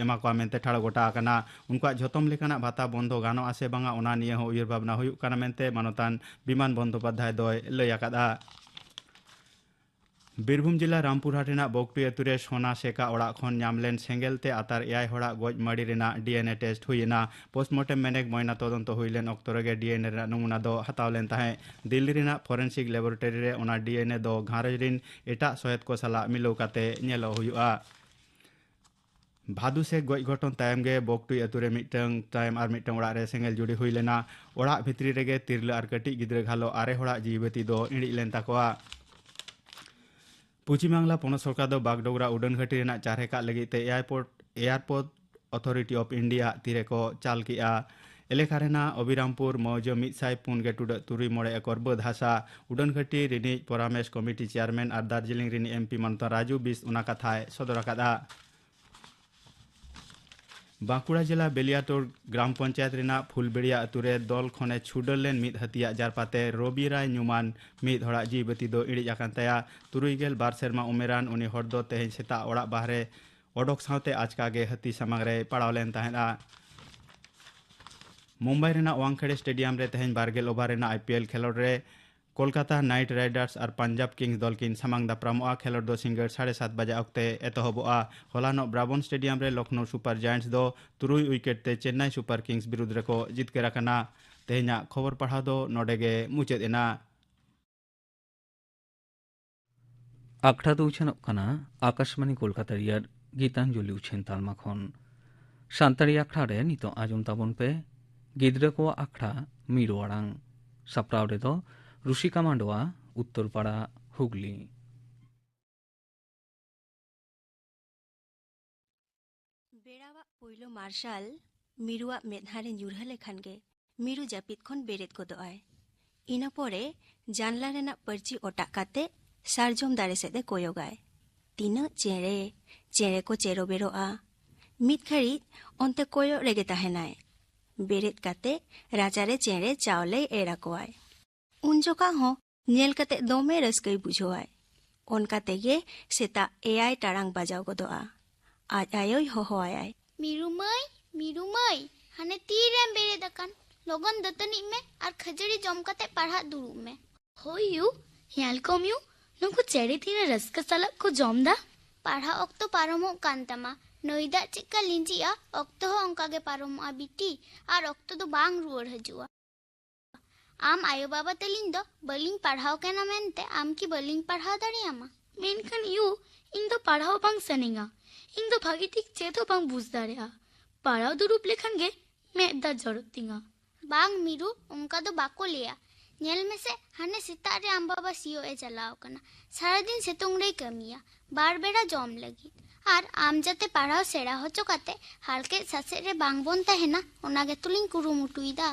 ᱮᱢᱟ ᱠᱚᱣᱟ ᱢᱮᱱᱛᱮ ᱴᱷᱟᱲᱚ ᱜᱚᱴᱟ ᱟᱠᱟᱱᱟ ᱩᱱᱠᱩᱣᱟᱜ ᱡᱷᱚᱛᱚᱢ ᱞᱮᱠᱟᱱᱟᱜ ᱵᱷᱟᱛᱟ ᱵᱚᱱᱫᱚ ᱜᱟᱱᱚᱜ ᱟᱥᱮ ᱵᱟᱝᱟ ᱚᱱᱟ ᱱᱤᱭᱟᱹ ᱦᱚᱸ ᱩᱭᱦᱟᱹᱨ ᱵᱷᱟᱵᱽᱱᱟ ᱦᱩᱭᱩᱜ ᱠᱟᱱᱟ ᱢᱮᱱᱛᱮ ᱢᱟᱱᱚᱛᱟᱱ ᱵᱤᱢᱟᱱ ᱵᱚᱱᱫᱚᱯᱟᱫᱷᱟᱭ ᱫᱚᱭ ᱞᱟᱹᱭ ᱟᱠᱟᱫᱟ ᱵᱤᱨᱵᱷᱩᱢ ᱡᱮᱞᱟ ᱨᱟᱢᱯᱩᱨᱦᱟᱴ ᱨᱮᱱᱟᱜ ᱵᱚᱜᱽᱴᱩᱭ ᱟᱹᱛᱩ ᱨᱮ ᱥᱚᱱᱟ ᱥᱮᱠᱟ ᱚᱲᱟᱜ ᱠᱷᱚᱱ ᱧᱟᱢ ᱞᱮᱱ ᱥᱮᱸᱜᱮᱞ ᱛᱮ ᱟᱛᱟᱨ ᱮᱭᱟᱭ ᱦᱚᱲᱟᱜ ᱜᱚᱡ ᱢᱟᱹᱲᱤ ᱨᱮᱱᱟᱜ ᱰᱤᱮᱱᱮ ᱴᱮᱥᱴ ᱦᱩᱭ ᱮᱱᱟ ᱯᱳᱥᱴᱢᱚᱨᱴᱮᱢ ᱢᱮᱱᱮᱠ ᱢᱚᱭᱱᱟ ᱛᱚᱫᱚᱱᱛᱚ ᱦᱩᱭ ᱞᱮᱱ ᱚᱠᱛᱚ ᱨᱮᱜᱮ ᱰᱤᱮᱱᱮ ᱨᱮᱱᱟᱜ ᱱᱚᱢᱩᱱᱟ ᱫᱚ ᱦᱟᱛᱟᱣ ᱞᱮᱱ ᱛᱟᱦᱮᱸᱫ ᱫᱤᱞᱞᱤ ᱨᱮᱱᱟᱜ ᱯᱷᱚᱨᱮᱱᱥᱤᱠ ᱞᱮᱵᱚᱨᱮᱴᱚᱨᱤ ᱨᱮ ᱚᱱᱟ ᱰᱤᱮᱱᱮ ᱫᱚ ᱜᱷᱟᱨᱚᱸᱡᱽ ᱨᱤᱱ ᱮᱴᱟᱜ ᱥᱚᱦᱮᱫ ᱠᱚ ᱥᱟᱞᱟᱜ ᱢᱤᱞᱟᱹᱣ ᱠᱟᱛᱮ ᱧᱮᱞᱚᱜ ᱦᱩᱭᱩᱜᱼᱟ ᱵᱷᱟᱫᱩ ᱥᱮ ᱜᱚᱡ ᱜᱷᱚᱴᱚᱱ ᱛᱟᱭᱚᱢ ᱜᱮ ᱵᱚᱠᱴᱩᱭ ᱟᱛᱳ ᱨᱮ ᱢᱤᱫᱴᱟᱝ ᱛᱟᱭᱚᱢ ᱟᱨ ᱢᱤᱫᱴᱟᱝ ᱚᱲᱟᱜ ᱨᱮ ᱥᱮᱸᱜᱮᱞ ᱡᱩᱲᱤ ᱦᱩᱭ ᱞᱮᱱᱟ ᱚᱲᱟᱜ ᱵᱷᱤᱛᱨᱤ ᱨᱮᱜᱮ ᱛᱤᱨᱞᱟᱹ ᱟᱨ ᱠᱟᱹᱴᱤᱡ ᱜᱤᱫᱽᱨᱟᱹ ᱜᱷᱟᱞᱚ ᱟᱨᱮ ᱦᱚᱲᱟᱜ ᱡᱤᱣᱤ ᱵᱟᱹᱛᱤ ᱫᱚ ᱤᱬᱤᱡ ᱞᱮᱱ ᱛᱟᱠᱚᱣᱟ ᱯᱚᱪᱷᱤᱢ ᱵᱟᱝᱞᱟ ᱯᱚᱱᱚᱛ ᱥᱚᱨᱠᱟᱨ ᱫᱚ ᱵᱟᱜᱰᱳᱜᱨᱟ ᱩᱰᱟᱹᱱ ᱜᱷᱟᱹᱴᱤ ᱨᱮᱱᱟᱜ ᱪᱟᱨᱦᱮ ᱠᱟᱜ ᱞᱟᱹᱜᱤᱫ ᱛᱮ airport airport authority of India ᱛᱤᱨᱮ ᱠᱚ ᱪᱟᱞ ᱠᱮᱜᱼᱟ ᱮᱞᱮᱠᱟ ᱨᱮᱱᱟᱜ ᱚᱵᱤᱨᱟᱢᱯᱩᱨ ᱢᱚᱣᱡᱟᱹ ᱢᱤᱫ ᱥᱟᱭ ᱯᱩᱱ ᱜᱮ ᱴᱩᱰᱟᱹᱜ ᱛᱩᱨᱩᱭ ᱢᱚᱬᱮ ᱮᱠᱚᱨ ᱵᱟᱹᱫᱽ ᱦᱟᱥᱟ ᱩᱰᱟᱹᱱ ᱜᱷᱟᱹᱴᱤ ᱨᱤᱱᱤᱡ ᱯᱚᱨᱟᱢᱮᱥ ᱠᱚᱢᱤᱴᱤ ᱪᱮᱭᱟᱨᱢᱮᱱ ᱟᱨ ᱫᱟᱨᱡᱤᱞᱤᱝ ᱨᱤᱱᱤᱡ ᱮᱢᱯᱤ ᱢᱟᱱᱚᱛᱟᱱ ᱨᱟᱡᱩ ᱵᱤᱥ ᱚᱱᱟ ᱠᱟᱛᱷᱟᱭ ᱥᱚᱫᱚᱨ ᱟᱠᱟᱫᱼᱟ ᱵᱟᱸᱠᱩᱲᱟ ᱡᱮᱞᱟ ᱵᱮᱞᱤᱭᱟᱴᱳᱲ ᱜᱨᱟᱢ ᱯᱚᱧᱪᱟᱭᱮᱛ ᱨᱮᱱᱟᱜ ᱯᱷᱩᱞᱵᱮᱲᱤᱭᱟ ᱟᱛᱩ ᱨᱮ ᱫᱚᱞ ᱠᱷᱚᱱᱮ ᱪᱷᱩᱰᱟᱹᱨ ᱞᱮᱱ ᱢᱤᱫ ᱦᱟᱹᱛᱤᱭᱟᱜ ᱡᱟᱨᱯᱟᱛᱮ ᱨᱚᱵᱤ ᱨᱟᱭ ᱧᱩᱢᱟᱱ ᱢᱤᱫ ᱦᱚᱲᱟᱜ ᱡᱤᱣᱤ ᱵᱟᱹᱛᱤ ᱫᱚ ᱤᱬᱤᱡ ᱟᱠᱟᱱ ᱛᱟᱭᱟ ᱛᱩᱨᱩᱭ ᱜᱮᱞ ᱵᱟᱨ ᱥᱮᱨᱢᱟ ᱩᱢᱮᱨᱟᱱ ᱩᱱᱤ ᱦᱚᱲ ᱫᱚ ᱛᱮᱦᱮᱧ ᱥᱮᱛᱟᱜ ᱚᱲᱟᱜ ᱵᱟᱦᱨᱮ ᱚᱰᱚᱠ ᱥᱟᱶᱛᱮ ᱟᱪᱠᱟ ᱜᱮ ᱦᱟᱹᱛᱤ ᱥᱟᱢᱟᱝ ᱨᱮᱭ ᱯᱟᱲᱟᱣ ᱞᱮᱱ ᱛᱟᱦᱮᱸᱫᱼᱟ ᱢᱩᱢᱵᱟᱭ ᱨᱮᱱᱟᱜ ᱣᱟᱝᱠᱷᱮᱲᱮ ᱥᱴᱮᱰᱤᱭᱟᱢ ᱨᱮ ᱛᱮᱦᱮᱧ ᱵᱟᱨᱜᱮᱞ ᱳᱵᱷᱟᱨ ᱨᱮᱱᱟᱜ ᱟᱭᱯᱤᱮᱞ ᱠᱷᱮᱞᱳᱰ ᱨᱮ ᱠᱳᱞᱠᱟᱛᱟ ᱱᱟᱭᱤᱴ ᱨᱟᱭᱰᱟᱨᱥ ᱟᱨ ᱯᱟᱧᱡᱟᱵᱽ ᱠᱤᱝᱥ ᱫᱚᱞ ᱠᱤᱱ ᱥᱟᱢᱟᱝ ᱫᱟᱯᱨᱟᱢᱚᱜᱼᱟ ᱠᱷᱮᱞᱳᱰ ᱫᱚ ᱥᱤᱸᱜᱟᱹᱲ ᱥᱟᱲᱮ ᱥᱟᱛ ᱵᱟᱡᱟ ᱚᱠᱛᱮ ᱮᱛᱚᱦᱚᱵᱚᱜᱼᱟ ᱦᱚᱞᱟᱱᱚᱜ ᱵᱨᱟᱵᱚᱱ ᱥᱴᱮᱰᱤᱭᱟᱢ ᱨᱮ ᱞᱚᱠᱷᱱᱳ ᱥᱩᱯᱟᱨ ᱡᱟᱭᱮᱱᱴᱥ ᱫᱚ ᱛᱩᱨᱩᱭ ᱩᱭᱠᱮᱴ ᱛᱮ ᱪᱮᱱᱱᱟᱭ ᱥᱩᱯᱟᱨ ᱠᱤᱝᱥ ᱵᱤᱨᱩᱫᱽ ᱨᱮᱠᱚ ᱡᱤᱛᱠᱟᱹᱨ ᱟᱠᱟᱱᱟ ᱛᱮᱦᱮᱧᱟᱜ ᱠᱷᱚᱵᱚᱨ ᱯᱟᱲᱦᱟᱣ ᱫᱚ ᱱᱚᱰᱮ ᱜᱮ ᱢᱩᱪᱟᱹᱫ ᱮᱱᱟ ᱟᱠᱷᱲᱟ ᱫᱚ ᱩᱪᱷᱟᱹᱱᱚᱜ ᱠᱟᱱᱟ ᱟᱠᱟᱥᱢᱟᱱᱤ ᱠᱳᱞᱠᱟᱛᱟ ᱨᱮᱭᱟᱜ ᱜᱤᱛᱟᱧᱡᱚᱞᱤ ᱩᱪᱷᱟᱹᱱ ᱛᱟᱞᱢᱟ ᱠᱷᱚᱱ ᱥᱟᱱᱛᱟᱲᱤ ᱟᱠᱷᱲᱟ ᱨᱮ ᱱᱤᱛᱚᱜ ᱟᱸᱡᱚᱢ ᱛᱟᱵᱚᱱ ᱯᱮ ᱜᱤᱫᱽᱨᱟᱹ ᱠᱚᱣᱟᱜ ᱟᱠᱷᱲᱟ ᱢᱤᱨᱩ ᱟᱲᱟᱝ ᱥᱟᱯᱲᱟᱣ ᱨᱮᱫᱚ ᱨᱩᱥᱤᱠᱟ ᱢᱟᱱᱰᱣᱟ ᱩᱛᱛᱚᱨᱯᱟᱲᱟ ᱦᱩᱜᱽᱞᱤ ᱵᱮᱲᱟᱣᱟᱜ ᱯᱩᱭᱞᱩ ᱢᱟᱨᱥᱟᱞ ᱢᱤᱨᱩᱣᱟᱜ ᱢᱮᱫᱦᱟ ᱨᱮ ᱧᱩᱨᱦᱟᱹ ᱞᱮᱠᱷᱟᱱ ᱜᱮ ᱢᱤᱨᱩ ᱡᱟᱹᱯᱤᱫ ᱠᱷᱚᱱ ᱵᱮᱨᱮᱫ ᱜᱚᱫᱚᱜ ᱟᱭ ᱤᱱᱟᱹ ᱯᱚᱨᱮ ᱡᱟᱱᱞᱟ ᱨᱮᱱᱟᱜ ᱯᱟᱹᱨᱪᱤ ᱚᱴᱟᱜ ᱠᱟᱛᱮ ᱥᱟᱨᱡᱚᱢ ᱫᱟᱨᱮ ᱥᱮᱫ ᱮ ᱠᱚᱭᱚᱜᱟᱭ ᱛᱤᱱᱟᱹᱜ ᱪᱮᱬᱮ ᱪᱮᱬᱮ ᱠᱚ ᱪᱮᱨᱚ ᱵᱮᱨᱚᱜᱼᱟ ᱢᱤᱫ ᱜᱷᱟᱹᱲᱤᱡ ᱚᱱᱛᱮ ᱠᱚᱭᱚᱜ ᱨᱮᱜᱮ ᱛᱟᱦᱮᱱᱟᱭ ᱵᱮᱨᱮᱫ ᱠᱟᱛᱮ ᱨᱟᱪᱟᱨᱮ ᱪᱮᱬᱮ ᱪᱟᱣᱞᱮᱭ ᱮᱨ ᱟᱠᱚᱣᱟᱭ ᱩᱱ ᱡᱚᱠᱷᱟ ᱦᱚᱸ ᱧᱮᱞ ᱠᱟᱛᱮ ᱫᱚᱢᱮ ᱨᱟᱹᱥᱠᱟᱹᱭ ᱵᱩᱡᱷᱟᱹᱣᱟᱭ ᱚᱱᱠᱟ ᱛᱮᱜᱮ ᱥᱮᱛᱟᱜ ᱮᱭᱟᱭ ᱴᱟᱲᱟᱝ ᱵᱟᱡᱟᱣ ᱜᱚᱫᱚᱜᱼᱟ ᱟᱡ ᱟᱭᱳᱭ ᱦᱚᱦᱚᱣᱟᱭᱟᱭ ᱢᱤᱨᱩ ᱢᱟᱹᱭ ᱢᱤᱨᱩ ᱢᱟᱹᱭ ᱦᱟᱱᱮ ᱛᱤᱨᱮᱢ ᱵᱮᱨᱮᱫ ᱟᱠᱟᱱ ᱞᱚᱜᱚᱱ ᱫᱟᱹᱛᱟᱹᱱᱤᱜ ᱢᱮ ᱟᱨ ᱠᱷᱟᱹᱡᱟᱹᱲᱤ ᱡᱚᱢ ᱠᱟᱛᱮ ᱯᱟᱲᱦᱟᱜ ᱫᱩᱲᱩᱵ ᱢᱮ ᱦᱳᱭ ᱭᱩ ᱧᱮᱞ ᱠᱚᱢ ᱭᱩ ᱱᱩᱠᱩ ᱪᱮᱬᱮ ᱛᱤᱱᱟᱹ ᱨᱟᱹᱥᱠᱟᱹ ᱥᱟᱞᱟᱜ ᱠᱚ ᱡᱚᱢ ᱫᱟ ᱯᱟᱲᱦᱟᱜ ᱚᱠᱛᱚ ᱯᱟᱨᱚᱢᱚᱜ ᱠᱟᱱ ᱛᱟᱢᱟ ᱱᱟᱹᱭ ᱫᱟᱜ ᱪᱮᱫᱠᱟ ᱞᱤᱸᱡᱤᱜᱼᱟ ᱚᱠᱛᱚ ᱦᱚᱸ ᱚᱱᱠᱟ ᱜᱮ ᱯᱟᱨᱚᱢᱚᱜᱼᱟ ᱵᱤᱴᱤ ᱟᱨ ᱚᱠᱛᱚ ᱫᱚ ᱵᱟᱝ ᱨᱩᱣᱟᱹᱲ ᱦᱤᱡᱩᱜᱼᱟ ᱟᱢ ᱟᱭᱳ ᱵᱟᱵᱟ ᱛᱟᱹᱞᱤᱧ ᱫᱚ ᱵᱟᱹᱞᱤᱧ ᱯᱟᱲᱦᱟᱣ ᱠᱟᱱᱟ ᱢᱮᱱᱛᱮ ᱟᱢ ᱠᱤ ᱵᱟᱹᱞᱤᱧ ᱯᱟᱲᱦᱟᱣ ᱫᱟᱲᱮᱭᱟᱢᱟ ᱢᱮᱱᱠᱷᱟᱱ ᱭᱩ ᱤᱧ ᱫᱚ ᱯᱟᱲᱦᱟᱣ ᱵᱟᱝ ᱥᱟᱱᱟᱧᱟ ᱤᱧ ᱫᱚ ᱵᱷᱟᱹᱜᱤ ᱴᱷᱤᱠ ᱪᱮᱫ ᱦᱚᱸ ᱵᱟᱝ ᱵᱩᱡᱽ ᱫᱟᱲᱮᱭᱟᱜᱼᱟ ᱯᱟᱲᱦᱟᱣ ᱫᱩᱲᱩᱵ ᱞᱮᱠᱷᱟᱱ ᱜᱮ ᱢᱮᱫ ᱫᱟᱜ ᱡᱚᱨᱚᱜ ᱛᱤᱧᱟ ᱵᱟᱝ ᱢᱤᱨᱩ ᱚᱱᱠᱟ ᱫᱚ ᱵᱟᱠᱚ ᱞᱟᱹᱭᱟ ᱧᱮᱞ ᱢᱮᱥᱮ ᱦᱟᱱᱮ ᱥᱮᱛᱟᱜ ᱨᱮ ᱟᱢ ᱵᱟᱵᱟ ᱥᱤᱭᱳᱜ ᱮ ᱪᱟᱞᱟᱣ ᱠᱟᱱᱟ ᱥᱟᱨᱟᱫᱤᱱ ᱥᱤᱛᱩᱝ ᱨᱮᱭ ᱠᱟᱹᱢᱤᱭᱟ ᱵᱟᱨ ᱵᱮᱲᱟ ᱡᱚᱢ ᱞᱟᱹᱜᱤᱫ ᱟᱨ ᱟᱢ ᱡᱟᱛᱮ ᱯᱟᱲᱦᱟᱣ ᱥᱮᱬᱟ ᱦᱚᱪᱚ ᱠᱟᱛᱮ ᱦᱟᱨᱠᱮᱛ ᱥᱟᱥᱮᱛ ᱨᱮ ᱵᱟᱝ ᱵᱚᱱ ᱛᱟᱦᱮᱱᱟ ᱚᱱᱟ ᱜᱮᱛᱚᱞᱤᱧ ᱠᱩᱨᱩᱢᱩᱴᱩᱭᱮᱫᱟ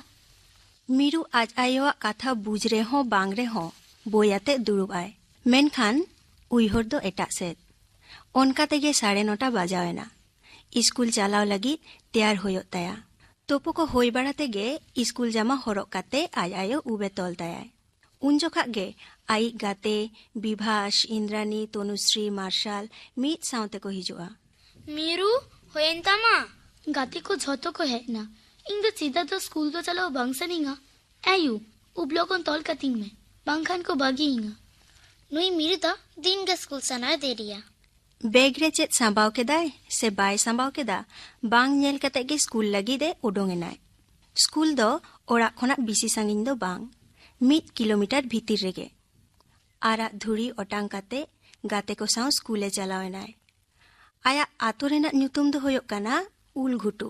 ᱢᱤᱨᱩ ᱟᱡ ᱟᱭᱳᱣᱟᱜ ᱠᱟᱛᱷᱟ ᱵᱩᱡᱽ ᱨᱮᱦᱚᱸ ᱵᱟᱝ ᱨᱮᱦᱚᱸ ᱵᱳᱭ ᱟᱛᱮ ᱫᱩᱲᱩᱵ ᱟᱭ ᱢᱮᱱᱠᱷᱟᱱ ᱩᱭᱦᱟᱹᱨ ᱫᱚ ᱮᱴᱟᱜ ᱥᱮᱫ ᱚᱱᱠᱟ ᱛᱮᱜᱮ ᱥᱟᱲᱮ ᱱᱚᱴᱟ ᱵᱟᱡᱟᱣ ᱮᱱᱟ ᱤᱥᱠᱩᱞ ᱪᱟᱞᱟᱣ ᱞᱟᱹᱜᱤᱫ ᱛᱮᱭᱟᱨ ᱦᱩᱭᱩᱜ ᱛᱟᱭᱟ ᱛᱳᱯᱳ ᱠᱚ ᱦᱩᱭ ᱵᱟᱲᱟ ᱛᱮᱜᱮ ᱤᱥᱠᱩᱞ ᱡᱟᱢᱟ ᱦᱚᱨᱚᱜ ᱠᱟᱛᱮ ᱟᱡ ᱟᱭᱳ ᱩᱵ ᱮ ᱛᱚᱞ ᱛᱟᱭᱟᱭ ᱩᱱ ᱡᱚᱠᱷᱟᱜ ᱜᱮ ᱟᱭᱤᱡ ᱜᱟᱛᱮ ᱵᱤᱵᱷᱟᱥ, ᱤᱱᱫᱨᱟᱱᱤ, ᱛᱚᱱᱩᱥᱨᱤ, ᱢᱟᱨᱥᱟᱞ ᱢᱤᱫ ᱥᱟᱶ ᱛᱮᱠᱚ ᱦᱤᱡᱩᱜᱼᱟ᱾ ᱢᱤᱨᱩ, ᱦᱩᱭᱮᱱ ᱛᱟᱢᱟ? ᱜᱟᱛᱮ ᱠᱚ ᱡᱷᱚᱛᱚ ᱠᱚ ᱦᱮᱡ ᱮᱱᱟ᱾ ᱤᱧ ᱫᱚ ᱪᱮᱫᱟᱜ ᱫᱚ ᱥᱠᱩᱞ ᱫᱚ ᱪᱟᱞᱟᱣ ᱵᱟᱝ ᱥᱟᱱᱟᱹᱧᱟ? ᱮᱭᱩ, ᱩᱵ ᱞᱚᱜᱚᱱ ᱛᱚᱞ ᱠᱟᱹᱛᱤᱧ ᱢᱮ, ᱵᱟᱝᱠᱷᱟᱱ ᱠᱚ ᱵᱟᱹᱜᱤ ᱤᱧᱟ᱾ ᱱᱩᱭ ᱢᱤᱨᱩ ᱫᱚ ᱫᱤᱱ ᱜᱮ ᱥᱠᱩᱞ ᱥᱮᱱᱚᱜ ᱮ ᱫᱮᱨᱤᱭᱟ᱾ ᱵᱮᱜᱽ ᱨᱮ ᱪᱮᱫ ᱥᱟᱸᱵᱟᱣ ᱠᱮᱫᱟᱭ ᱥᱮ ᱵᱟᱭ ᱥᱟᱸᱵᱟᱣ ᱠᱮᱫᱟ ᱵᱟᱝ ᱧᱮᱞ ᱠᱟᱛᱮ ᱜᱮ ᱥᱠᱩᱞ ᱞᱟᱹᱜᱤᱫ ᱮ ᱩᱰᱩᱝ ᱮᱱᱟᱭ ᱥᱠᱩᱞ ᱫᱚ ᱚᱲᱟᱜ ᱠᱷᱚᱱᱟᱜ ᱵᱤᱥᱤ ᱥᱟᱺᱜᱤᱧ ᱫᱚ ᱵᱟᱝ ᱢᱤᱫ ᱠᱤᱞᱳᱢᱤᱴᱟᱨ ᱵᱷᱤᱛᱤᱨ ᱨᱮᱜᱮ ᱟᱨᱟᱜ ᱫᱷᱩᱲᱤ ᱚᱴᱟᱝ ᱠᱟᱛᱮ ᱜᱟᱛᱮ ᱠᱚ ᱥᱟᱶ ᱥᱠᱩᱞ ᱮ ᱪᱟᱞᱟᱣ ᱮᱱᱟᱭ ᱟᱭᱟᱜ ᱟᱛᱳ ᱨᱮᱱᱟᱜ ᱧᱩᱛᱩᱢ ᱫᱚ ᱦᱩᱭᱩᱜ ᱠᱟᱱᱟ ᱩᱞ ᱜᱷᱩᱴᱩ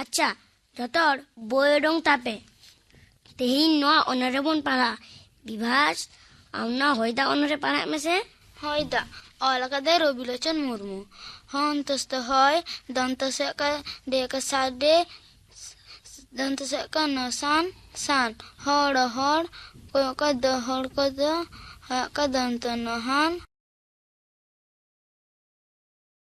ᱟᱪᱪᱷᱟ ᱡᱚᱛᱚ ᱦᱚᱲ ᱵᱳᱭ ᱚᱰᱚᱝ ᱛᱟᱯᱮ ᱛᱮᱦᱮᱧ ᱱᱚᱣᱟ ᱚᱱᱚᱨ ᱨᱮᱵᱚᱱ ᱯᱟᱲᱦᱟᱜᱼᱟ ᱵᱤᱵᱷᱟᱥ ᱟᱢ ᱱᱚᱣᱟ ᱦᱚᱭᱫᱟ ᱚᱱᱚᱨ ᱨᱮ ᱯᱟᱲᱦᱟᱜ ᱢᱮᱥᱮ ᱦᱚᱭᱫᱟ ᱚᱞ ᱟᱠᱟᱫᱟᱭ ᱨᱚᱵᱤᱞᱳᱪᱚᱱ ᱢᱩᱨᱢᱩ ᱦᱚᱱᱛᱚᱥ ᱫᱚ ᱦᱚᱭ ᱫᱚᱱᱛᱚᱥ ᱠᱟ ᱰᱮ ᱠᱟ ᱥᱟᱰᱮ ᱫᱚᱱᱛᱚᱥ ᱠᱟ ᱱᱚᱥᱟᱱ ᱥᱟᱱ ᱦᱚᱲ ᱦᱚᱲ ᱠᱚᱭᱚᱜ ᱠᱟ ᱫᱚ ᱦᱚᱲ ᱠᱚ ᱫᱚ ᱦᱚᱭᱚᱜ ᱠᱟ ᱫᱚᱱᱛᱚ ᱱᱚᱦᱟᱱ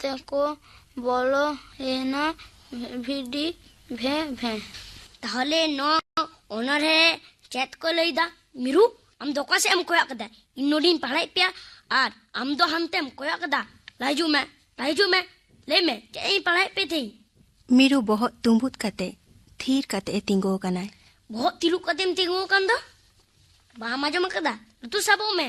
ᱛᱮᱠᱚ ᱵᱚᱞᱚ ᱮᱱᱟ ᱵᱷᱤᱰᱤ ᱵᱷᱮ ᱵᱷᱮ ᱛᱟᱦᱚᱞᱮ ᱱᱚᱣᱟ ᱚᱱᱚᱬᱦᱮ ᱪᱮᱫ ᱠᱚ ᱞᱟᱹᱭᱫᱟ ᱢᱤᱨᱩ ᱟᱢ ᱫᱚ ᱚᱠᱟ ᱥᱮᱫ ᱮᱢ ᱠᱚᱭᱚᱜ ᱠᱟᱫᱟ ᱤᱧ ᱱᱚᱰᱮᱧ ᱯᱟᱲᱦᱟᱣᱮᱫ ᱯᱮᱭᱟ ᱟᱨ ᱟᱢ ᱫᱚ ᱦᱟᱱᱛᱮᱢ ᱠᱚᱭᱚᱜ ᱠᱟᱫᱟ ᱞᱟᱦᱟ ᱦᱤᱡᱩᱜ ᱢᱮ ᱞᱟᱦᱟ ᱦᱤᱡᱩᱜ ᱢᱮ ᱞᱟᱹᱭ ᱢᱮ ᱪᱮᱫ ᱤᱧ ᱯᱟᱲᱦᱟᱣᱮᱫ ᱯᱮ ᱛᱮᱦᱮᱧ ᱢᱤᱨᱩ ᱵᱚᱦᱚᱜ ᱛᱩᱸᱵᱩᱫ ᱠᱟᱛᱮ ᱛᱷᱤᱨ ᱠᱟᱛᱮ ᱮ ᱛᱤᱸᱜᱩ ᱟᱠᱟᱱᱟᱭ ᱵᱚᱦᱚᱜ ᱛᱤᱨᱩᱵ ᱠᱟᱛᱮᱢ ᱛᱤᱸᱜᱩ ᱟᱠᱟᱱ ᱫᱚ ᱵᱟᱢ ᱟᱸᱡᱚᱢ ᱟᱠᱟᱫᱟ ᱞᱩᱛᱩᱨ ᱥᱟᱵᱚᱜ ᱢᱮ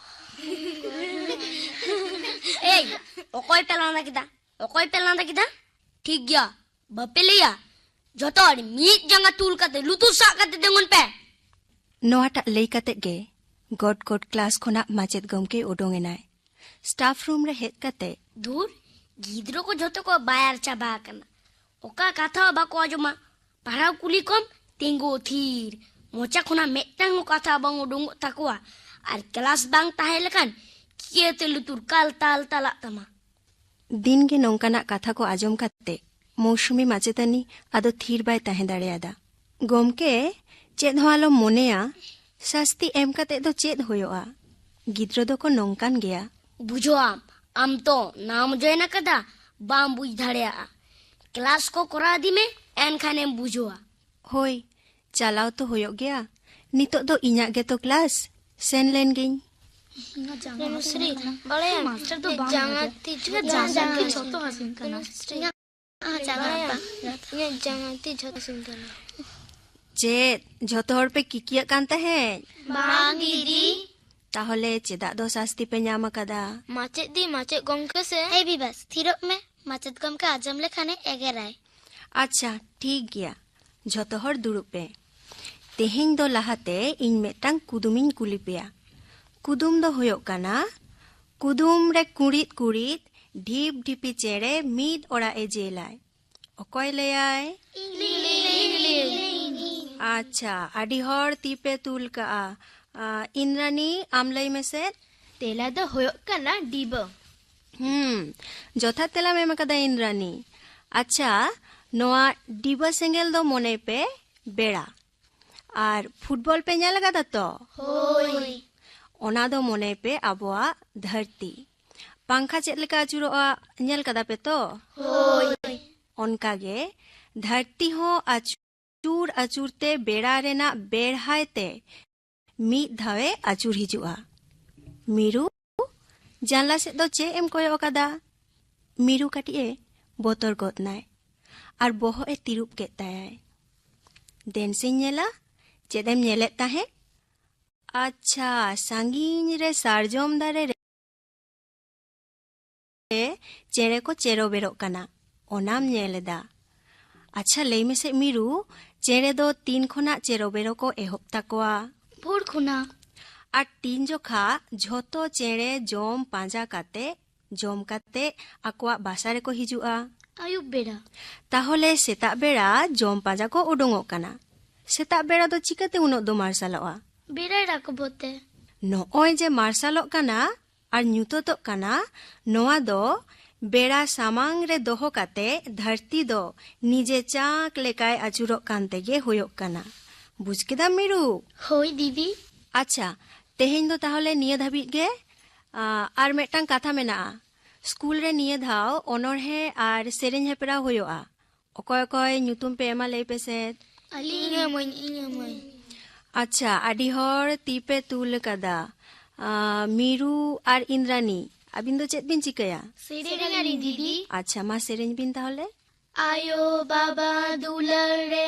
ᱮᱭ ᱚᱠᱚᱭ ᱯᱮ ᱞᱟᱸᱫᱟ ᱠᱮᱫᱟ ᱚᱠᱚᱭ ᱯᱮ ᱞᱟᱸᱫᱟ ᱠᱮᱫᱟ ᱴᱷᱤᱠ ᱜᱮᱭᱟ ᱵᱟᱯᱮ ᱞᱟᱹᱭᱟ ᱡᱚᱛᱚ ᱦᱚᱲ ᱢᱤᱫ ᱡᱟᱸᱜᱟ ᱛᱩᱞ ᱠᱟᱛᱮ ᱞᱩᱛᱩᱨ ᱥᱟᱵ ᱠᱟᱛᱮ ᱛᱤᱸᱜᱩᱱ ᱯᱮ ᱱᱚᱣᱟᱴᱟᱜ ᱞᱟᱹᱭ ᱠᱟᱛᱮ ᱜᱮ ᱜᱚᱴ ᱜᱚᱴ ᱠᱞᱟᱥ ᱠᱷᱚᱱᱟᱜ ᱢᱟᱪᱮᱫ ᱜᱚᱢᱠᱮ ᱩᱰᱩᱝ ᱮᱱᱟᱭ ᱥᱴᱟᱯ ᱨᱩᱢ ᱨᱮ ᱦᱮᱡ ᱠᱟᱛᱮ ᱫᱷᱩᱨ ᱜᱤᱫᱽᱨᱟᱹ ᱠᱚ ᱡᱚᱛᱚ ᱠᱚ ᱵᱟᱭᱟᱨ ᱪᱟᱵᱟ ᱟᱠᱟᱱᱟ ᱚᱠᱟ ᱠᱟᱛᱷᱟ ᱦᱚᱸ ᱵᱟᱠᱚ ᱟᱸᱡᱚᱢᱟ ᱯᱟᱲᱦᱟᱣ ᱠᱩᱞᱤ ᱠᱚᱢ ᱛᱤᱸᱜᱩ ᱛᱷᱤᱨ ᱢᱚᱪᱟ ᱠᱷᱚᱱᱟᱜ ᱢᱤᱫᱴᱟᱝ ᱠᱟᱛᱷᱟ ᱵᱟᱝ ᱩᱰᱩᱝᱚᱜ ᱛᱟᱠᱚᱣᱟ ᱟᱨ ᱠᱞᱟᱥ ᱵᱟᱝ ᱛᱟᱦᱮᱸ ᱞᱮᱠᱷᱟᱱ ᱪᱤᱠᱟᱹᱛᱮ ᱞᱩᱛᱩᱨ ᱠᱟᱞ ᱛᱟᱞ ᱛᱟᱞᱟᱜ ᱛᱟᱢᱟ ᱫᱤᱱ ᱜᱮ ᱱᱚᱝᱠᱟᱱᱟᱜ ᱠᱟᱛᱷᱟ ᱠᱚ ᱟᱸᱡᱚᱢ ᱠᱟᱛᱮ ᱢᱳᱣᱥᱩᱢᱤ ᱢᱟᱪᱮᱛᱟᱹᱱᱤ ᱟᱫᱚ ᱛᱷᱤᱨ ᱵᱟᱭ ᱛᱟᱦᱮᱸ ᱫᱟᱲᱮᱭᱟᱫᱟ ᱜᱚᱢᱠᱮ ᱪᱮᱫ ᱦᱚᱸ ᱟᱞᱚᱢ ᱢᱚᱱᱮᱭᱟ ᱥᱟᱥᱛᱤ ᱮᱢ ᱠᱟᱛᱮ ᱫᱚ ᱪᱮᱫ ᱦᱩᱭᱩᱜᱼᱟ ᱜᱤᱫᱽᱨᱟᱹ ᱫᱚᱠᱚ ᱱᱚᱝᱠᱟᱱ ᱜᱮᱭᱟ ᱵᱩᱡᱷᱟᱹᱣᱟᱢ ᱟᱢ ᱛᱚ ᱱᱟᱢ ᱡᱚᱭᱮᱱ ᱟᱠᱟᱫᱟ ᱵᱟᱢ ᱵᱩᱡᱽ ᱫᱟᱲᱮᱭᱟᱜᱼᱟ ᱠᱞᱟᱥ ᱠᱚ ᱠᱚᱨᱟᱣ ᱤᱫᱤ ᱢᱮ ᱮᱱᱠᱷᱟᱱᱮᱢ ᱵᱩᱡᱷᱟᱹᱣᱟ ᱦᱳᱭ ᱪᱟᱞᱟᱣ ᱛᱚ ᱦᱩᱭᱩᱜ ᱜᱮᱭᱟ ᱱᱤᱛᱚᱜ ᱫᱚ ᱤᱧᱟᱹᱜ ᱜᱮᱛᱚ ᱠᱞᱟᱥ ᱥᱮᱱ ᱞᱮᱱ ᱜᱤᱧ ᱵᱟᱲᱟᱭᱟᱢ ᱢᱟᱥᱴᱟᱨ ᱫᱚ ᱵᱟᱝ ᱡᱟᱸᱜᱟ ᱛᱤ ᱡᱟᱸᱜᱟ ᱡᱚᱛᱚ ᱦᱟᱹᱥᱩᱧ ᱠᱟᱱᱟ ᱪᱮᱫ ᱡᱷᱚᱛᱚ ᱦᱚᱲ ᱯᱮ ᱠᱤᱠᱤᱭᱟᱜ ᱠᱟᱱ ᱛᱟᱦᱮᱸᱫ ᱵᱟᱝ ᱫᱤᱫᱤ ᱛᱟᱦᱚᱞᱮ ᱪᱮᱫᱟᱜ ᱫᱚ ᱥᱟᱥᱛᱤ ᱯᱮ ᱧᱟᱢ ᱟᱠᱟᱫᱟ ᱢᱟᱪᱮᱫ ᱫᱤ ᱢᱟᱪᱮᱫ ᱜᱚᱢᱠᱮ ᱥᱮ ᱮᱭ ᱵᱤᱵᱟᱥ ᱛᱷᱤᱨᱚᱜ ᱢᱮ ᱢᱟᱪᱮᱫ ᱜᱚᱢᱠᱮ ᱟᱸᱡᱚᱢ ᱞᱮᱠᱷᱟᱱᱮ ᱮᱜᱮᱨᱟᱭ ᱟᱪᱪᱷᱟ ᱴᱷᱤᱠ ᱜᱮᱭᱟ ᱡᱷᱚᱛᱚ ᱦᱚᱲ ᱫᱩᱲᱩᱵ ᱯᱮ ᱛᱮᱦᱮᱧ ᱫᱚ ᱞᱟᱦᱟᱛᱮ ᱤᱧ ᱢᱤᱫᱴᱟᱝ ᱠᱩᱫᱩᱢᱤᱧ ᱠᱩᱞᱤ ᱯᱮᱭᱟ ᱠᱩᱫᱩᱢ ᱫᱚ ᱦᱩᱭᱩᱜ ᱠᱟᱱᱟ ᱠᱩᱫᱩᱢ ᱨᱮ ᱠᱩᱲᱤᱫ ᱠᱩᱲᱤᱫ ᱰᱷᱤᱯ ᱰᱷᱤᱯᱤ ᱪᱮᱬᱮ ᱢᱤᱫ ᱚᱲᱟᱜ ᱮ ᱡᱮᱞᱟᱭ ᱚᱠᱚᱭ ᱞᱟᱹᱭᱟᱭ ᱟᱪᱪᱷᱟ ᱟᱹᱰᱤ ᱦᱚᱲ ᱛᱤ ᱯᱮ ᱛᱩᱞ ᱠᱟᱜᱼᱟ ᱤᱱᱨᱟᱱᱤ ᱟᱢ ᱞᱟᱹᱭ ᱢᱮᱥᱮ ᱛᱮᱞᱟ ᱫᱚ ᱦᱩᱭᱩᱜ ᱠᱟᱱᱟ ᱰᱤᱵᱟᱹ ᱦᱩᱸ ᱡᱚᱛᱷᱟᱛ ᱛᱮᱞᱟᱢ ᱮᱢ ᱟᱠᱟᱫᱟ ᱤᱱᱫᱨᱟᱱᱤ ᱟᱪᱪᱷᱟ ᱱᱚᱣᱟ ᱰᱤᱵᱟᱹ ᱥᱮᱸᱜᱮᱞ ᱫᱚ ᱢᱚᱱᱮ ᱯᱮ ᱵᱮᱲᱟ ᱟᱨ ᱯᱷᱩᱴᱵᱚᱞ ᱯᱮ ᱧᱮᱞ ᱟᱠᱟᱫᱟ ᱛᱚ ᱦᱳᱭ ᱚᱱᱟ ᱫᱚ ᱢᱚᱱᱮ ᱯᱮ ᱟᱵᱚᱣᱟᱜ ᱫᱷᱟᱹᱨᱛᱤ ᱯᱟᱝᱠᱷᱟ ᱪᱮᱫ ᱞᱮᱠᱟ ᱟᱹᱪᱩᱨᱚᱜᱼᱟ ᱧᱮᱞ ᱠᱟᱫᱟ ᱯᱮ ᱛᱚ ᱦᱳᱭ ᱚᱱᱠᱟ ᱜᱮ ᱫᱷᱟᱹᱨᱛᱤ ᱦᱚᱸ ᱟᱹᱪᱩᱨ ᱟᱹᱪᱩᱨ ᱛᱮ ᱵᱮᱲᱟ ᱨᱮᱱᱟᱜ ᱵᱮᱲᱦᱟᱭ ᱛᱮ ᱢᱤᱫ ᱫᱷᱟᱣᱮ ᱟᱹᱪᱩᱨ ᱦᱤᱡᱩᱜᱼᱟ ᱢᱤᱨᱩ ᱡᱟᱱᱞᱟ ᱥᱮᱫ ᱫᱚ ᱪᱮᱫ ᱮᱢ ᱠᱚᱭᱚᱜ ᱟᱠᱟᱫᱟ ᱢᱤᱨᱩ ᱠᱟᱹᱴᱤᱡ ᱮ ᱵᱚᱛᱚᱨ ᱜᱚᱫ ᱱᱟᱭ ᱟᱨ ᱵᱚᱦᱚᱜ ᱮ ᱛᱤᱨᱩᱵ ᱠᱮᱫ ᱛᱟᱭᱟᱭ ᱫᱮᱱ ᱥᱮᱧ ᱧᱮᱞᱟ ᱪᱮᱫ ᱮᱢ ᱧᱮᱞᱮᱫ ᱛᱟᱦᱮᱸᱫ ᱟᱪᱪᱷᱟ ᱥᱟᱺᱜᱤᱧ ᱨᱮ ᱥᱟᱨᱡᱚᱢ ᱫᱟᱨᱮ ᱨᱮ ᱨᱮ ᱪᱮᱬᱮ ᱠᱚ ᱪᱮᱨᱚ ᱵᱮᱨᱚᱜ ᱠᱟᱱᱟ ᱚᱱᱟᱢ ᱧᱮᱞ ᱮᱫᱟ ᱟᱪᱪᱷᱟ ᱞᱟᱹᱭ ᱢᱮᱥᱮ ᱢᱤᱨᱩ ᱪᱮᱬᱮ ᱫᱚ ᱛᱤᱱ ᱠᱷᱚᱱᱟᱜ ᱪᱮᱨᱚ ᱵᱮᱨᱚ ᱠᱚ ᱮᱦᱚᱵ ᱛᱟᱠᱚᱣᱟ ᱵᱷᱳᱨ ᱠᱷᱚᱱᱟᱜ ᱟᱨ ᱛᱤᱱ ᱡᱚᱠᱷᱟ ᱡᱷᱚᱛᱚ ᱪᱮᱬᱮ ᱡᱚᱢ ᱯᱟᱸᱡᱟ ᱠᱟᱛᱮ ᱡᱚᱢ ᱠᱟᱛᱮ ᱟᱠᱚᱣᱟᱜ ᱵᱟᱥᱟ ᱨᱮᱠᱚ ᱦᱤᱡᱩᱜᱼᱟ ᱟᱭᱩᱵ ᱵᱮᱲᱟ ᱛᱟᱦᱚᱞᱮ ᱥᱮᱛᱟᱜ ᱵᱮᱲᱟ ᱡᱚᱢ ᱯᱟᱸᱡᱟ ᱠᱚ ᱩᱰᱩᱝᱚᱜ ᱠᱟᱱᱟ ᱥᱮᱛᱟᱜ ᱵᱮᱲᱟ ᱫᱚ ᱪᱤᱠᱟᱹᱛᱮ ᱩᱱᱟᱹᱜ ᱫᱚ ᱢᱟᱨᱥᱟᱞᱚᱜᱼᱟ ᱵᱮᱲᱟᱭ ᱨᱟᱠᱟᱵᱚᱜ ᱛᱮ ᱱᱚᱜᱼᱚᱭ ᱡᱮ ᱢᱟᱨᱥᱟᱞᱚᱜ ᱠᱟᱱᱟ ᱟᱨ ᱧᱩᱛᱟᱹᱛᱚᱜ ᱠᱟᱱᱟ ᱱᱚᱣᱟ ᱫᱚ ᱵᱮᱲᱟ ᱥᱟᱢᱟᱝ ᱨᱮ ᱫᱚᱦᱚ ᱠᱟᱛᱮ ᱫᱷᱟᱹᱨᱛᱤ ᱫᱚ ᱱᱤᱡᱮ ᱪᱟᱸᱠ ᱞᱮᱠᱟᱭ ᱟᱹᱪᱩᱨᱚᱜ ᱠᱟᱱ ᱛᱮᱜᱮ ᱦᱳᱭᱳᱜ ᱠᱟᱱᱟ᱾ ᱵᱩᱡᱽ ᱠᱮᱫᱟᱢ ᱢᱤᱨᱩ? ᱦᱳᱭ ᱫᱤᱫᱤ᱾ ᱟᱪᱪᱷᱟ ᱛᱮᱦᱮᱧ ᱫᱚ ᱛᱟᱦᱚᱞᱮ ᱱᱤᱭᱟᱹ ᱫᱷᱟᱹᱵᱤᱡ ᱜᱮ᱾ ᱟᱨ ᱢᱤᱫᱴᱟᱝ ᱠᱟᱛᱷᱟ ᱢᱮᱱᱟᱜᱼᱟ, ᱥᱠᱩᱞ ᱨᱮ ᱱᱤᱭᱟᱹ ᱫᱷᱟᱣ ᱚᱱᱚᱬᱦᱮ ᱟᱨ ᱥᱮᱨᱮᱧ ᱦᱮᱯᱨᱟᱣ ᱦᱳᱭᱳᱜᱼᱟ᱾ ᱚᱠᱚᱭ ᱚᱠᱚᱭ ᱧᱩᱛᱩᱢ ᱯᱮ ᱮᱢᱟ ᱞᱟᱹᱭ ᱯᱮ ᱥᱮ ᱟᱹᱞᱤᱧ ᱤᱧ ᱮᱢᱟᱹᱧ ᱤᱧ ᱮᱢᱟᱹᱧ ᱟᱪᱪᱷᱟ ᱟᱹᱰᱤ ᱦᱚᱲ ᱛᱤ ᱯᱮ ᱛᱩᱞ ᱟᱠᱟᱫᱟ ᱢᱤᱨᱩ ᱟᱨ ᱤᱱᱫᱨᱟᱱᱤ ᱟᱹᱵᱤᱱ ᱫᱚ ᱪᱮᱫ ᱵᱤᱱ ᱪᱤᱠᱟᱹᱭᱟ ᱥᱮᱨᱮᱧᱟᱞᱤᱧ ᱫᱤᱫᱤ ᱟᱪᱪᱷᱟ ᱢᱟ ᱥᱮᱨᱮᱧ ᱵᱤᱱ ᱛᱟᱦᱚᱞᱮ ᱟᱭᱳ ᱵᱟᱵᱟ ᱫᱩᱞᱟᱹᱲ ᱨᱮ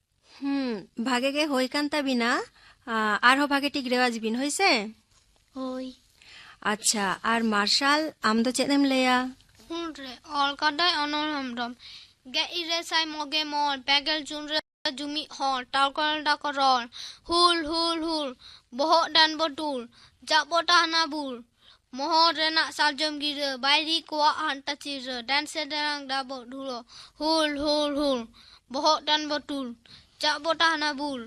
ᱦᱩᱸ ᱵᱷᱟᱜᱮ ᱜᱮ ᱦᱳᱭ ᱠᱟᱱ ᱛᱟᱵᱤᱱᱟ ᱟᱨᱦᱚᱸ ᱵᱷᱟᱜᱮ ᱴᱷᱤᱠ ᱨᱮᱣᱟᱡᱽ ᱵᱤᱱ ᱦᱳᱭ ᱥᱮ ᱦᱳᱭ ᱟᱪᱪᱷᱟ ᱟᱨ ᱢᱟᱨᱥᱟᱞ ᱟᱢ ᱫᱚ ᱪᱮᱫ ᱮᱢ ᱞᱟᱹᱭᱟ ᱦᱩᱸ ᱨᱮ ᱚᱞ ᱠᱟᱫᱟᱭ ᱚᱱᱚᱞ ᱦᱮᱢᱵᱨᱚᱢ ᱜᱮ ᱤᱨᱮ ᱥᱟᱭ ᱢᱚᱜᱮ ᱢᱚᱬ ᱯᱮᱜᱮᱞ ᱡᱩᱱ ᱨᱮ ᱡᱩᱢᱤᱫ ᱦᱚᱲ ᱴᱟᱣᱠᱚᱞ ᱰᱟᱠᱚ ᱨᱚᱲ ᱦᱩᱞ ᱦᱩᱞ ᱦᱩᱞ ᱵᱚᱦᱚᱜ ᱰᱟᱱ ᱵᱚ ᱴᱩᱞ ᱡᱟᱜ ᱵᱚ ᱴᱟᱦᱱᱟ ᱵᱩᱞ ᱢᱚᱦᱚᱨ ᱨᱮᱱᱟᱜ ᱥᱟᱨᱡᱚᱢ ᱜᱤᱨᱟᱹ ᱵᱟᱭᱨᱤ ᱠᱚᱣᱟᱜ ᱦᱟᱱᱴᱟ ᱪᱤᱨᱟᱹ ᱰᱟᱱᱥᱮ ᱰᱟᱱᱟᱝ ᱰᱟᱵᱚᱜ ᱰᱷᱩᱲᱚ ᱦᱩᱞ ᱦᱩᱞ ᱦᱩᱞ ᱵᱚᱦᱚᱜ ᱴᱟᱱ ᱵᱚᱴᱩᱞ ᱪᱟᱜ ᱵᱚ ᱴᱟᱦᱱᱟ ᱵᱩᱞ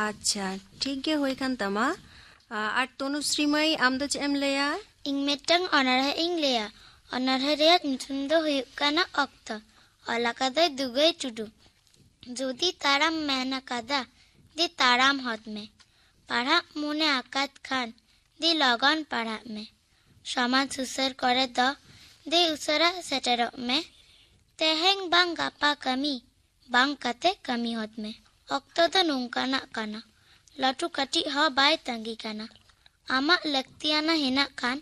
ᱟᱪᱪᱷᱟ ᱴᱷᱤᱠ ᱜᱮ ᱦᱩᱭ ᱠᱟᱱ ᱛᱟᱢᱟ ᱟᱨ ᱛᱚᱱᱩᱥᱨᱤ ᱢᱟᱹᱭ ᱟᱢ ᱫᱚ ᱪᱮᱫ ᱮᱢ ᱞᱟᱹᱭᱟ ᱤᱧ ᱢᱤᱫᱴᱟᱝ ᱚᱱᱚᱬᱦᱮ ᱤᱧ ᱞᱟᱹᱭᱟ ᱚᱱᱚᱬᱦᱮ ᱨᱮᱭᱟᱜ ᱧᱩᱛᱩᱢ ᱫᱚ ᱦᱩᱭᱩᱜ ᱠᱟᱱᱟ ᱚᱠᱛᱚ ᱚᱞ ᱟᱠᱟᱫᱟᱭ ᱫᱩᱜᱟᱹᱭ ᱴᱩᱰᱩ ᱡᱩᱫᱤ ᱛᱟᱲᱟᱢ ᱢᱮᱱ ᱟᱠᱟᱫᱟ ᱫᱮ ᱛᱟᱲᱟᱢ ᱦᱚᱫ ᱢᱮ ᱯᱟᱲᱦᱟᱜ ᱢᱚᱱᱮ ᱟᱠᱟᱫ ᱠᱷᱟᱱ ᱫᱮ ᱞᱚᱜᱚᱱ ᱯᱟᱲᱦᱟᱜ ᱢᱮ ᱥᱚᱢᱟᱡᱽ ᱥᱩᱥᱟᱹᱨ ᱠᱚᱨᱮ ᱫᱚ ᱫᱮ ᱩᱥᱟᱹᱨᱟ ᱥᱮᱴᱮᱨᱚᱜ ᱢᱮ ᱛᱮᱦᱮᱧ ᱵᱟᱝ ᱜᱟᱯᱟ ᱠᱟᱹᱢᱤ ᱵᱟᱝ ᱠᱟᱛᱮ ᱠᱟᱹᱢᱤ ᱦᱚᱫ ᱢᱮ ᱚᱠᱛᱚ ᱫᱚ ᱱᱚᱝᱠᱟᱱᱟᱜ ᱠᱟᱱᱟ ᱞᱟᱹᱴᱩ ᱠᱟᱹᱴᱤᱡ ᱦᱚᱸ ᱵᱟᱭ ᱛᱟᱺᱜᱤ ᱠᱟᱱᱟ ᱟᱢᱟᱜ ᱞᱟᱹᱠᱛᱤᱭᱟᱱᱟ ᱦᱮᱱᱟᱜ ᱠᱷᱟᱱ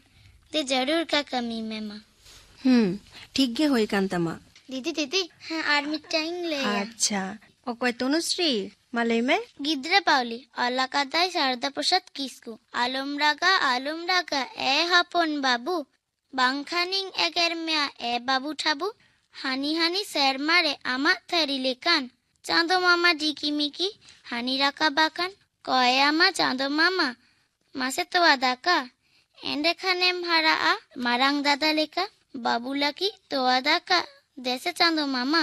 ᱫᱮ ᱡᱟᱹᱨᱩᱲ ᱜᱮ ᱠᱟᱹᱢᱤ ᱢᱮ ᱢᱟ ᱦᱩᱸ ᱴᱷᱤᱠ ᱜᱮ ᱦᱩᱭ ᱠᱟᱱ ᱛᱟᱢᱟ ᱫᱤᱫᱤ ᱫᱤᱫᱤ ᱦᱮᱸ ᱟᱨ ᱢᱤᱫᱴᱟᱝ ᱤᱧ ᱞᱟᱹᱭᱟ ᱟᱪᱪᱷᱟ ᱚᱠᱚᱭ ᱛᱚᱱᱩᱥᱨᱤ ᱢᱟ ᱞᱟᱹᱭ ᱢᱮ ᱜᱤᱫᱽᱨᱟᱹ ᱯᱟᱣᱞᱤ ᱚᱞ ᱟᱠᱟᱫᱟᱭ ᱥᱟᱨᱫᱟ ᱯᱨᱚᱥᱟᱫᱽ ᱠᱤᱥᱠᱩ ᱟᱞᱚᱢ ᱨᱟᱜᱟ ᱟᱞᱚᱢ ᱨᱟᱜᱟ ᱮ ᱦᱚᱯᱚᱱ ᱵᱟᱹᱵᱩ ᱵᱟᱝᱠᱷᱟᱱᱤᱧ ᱮᱜᱮᱨ ᱢᱮᱭᱟ ᱮ ᱵᱟᱹᱵᱩ ᱴᱷᱟᱵᱩ ᱦᱟᱹᱱᱤ ᱦᱟᱹᱱᱤ ᱥᱮᱨᱢᱟ ᱨᱮ ᱟᱢᱟᱜ ᱛᱷᱟᱹᱨᱤ ᱞᱮᱠᱟᱱ ᱪᱟᱸᱫᱚ ᱢᱟᱢᱟ ᱰᱤᱠᱤ ᱢᱤᱠᱤ ᱦᱟᱹᱱᱤ ᱨᱟᱠᱟᱵ ᱟᱠᱟᱱ ᱠᱚᱭ ᱟᱢᱟ ᱪᱟᱸᱫᱚ ᱢᱟᱢᱟ ᱢᱟᱥᱮ ᱛᱚᱣᱟ ᱫᱟᱠᱟ ᱮᱸᱰᱮᱠᱷᱟᱱᱮᱢ ᱦᱟᱨᱟᱜᱼᱟ ᱢᱟᱨᱟᱝ ᱫᱟᱫᱟ ᱞᱮᱠᱟ ᱵᱟᱹᱵᱩ ᱞᱟᱹᱜᱤᱫ ᱛᱚᱣᱟ ᱫᱟᱠᱟ ᱫᱮᱥᱮ ᱪᱟᱸᱫᱚ ᱢᱟᱢᱟ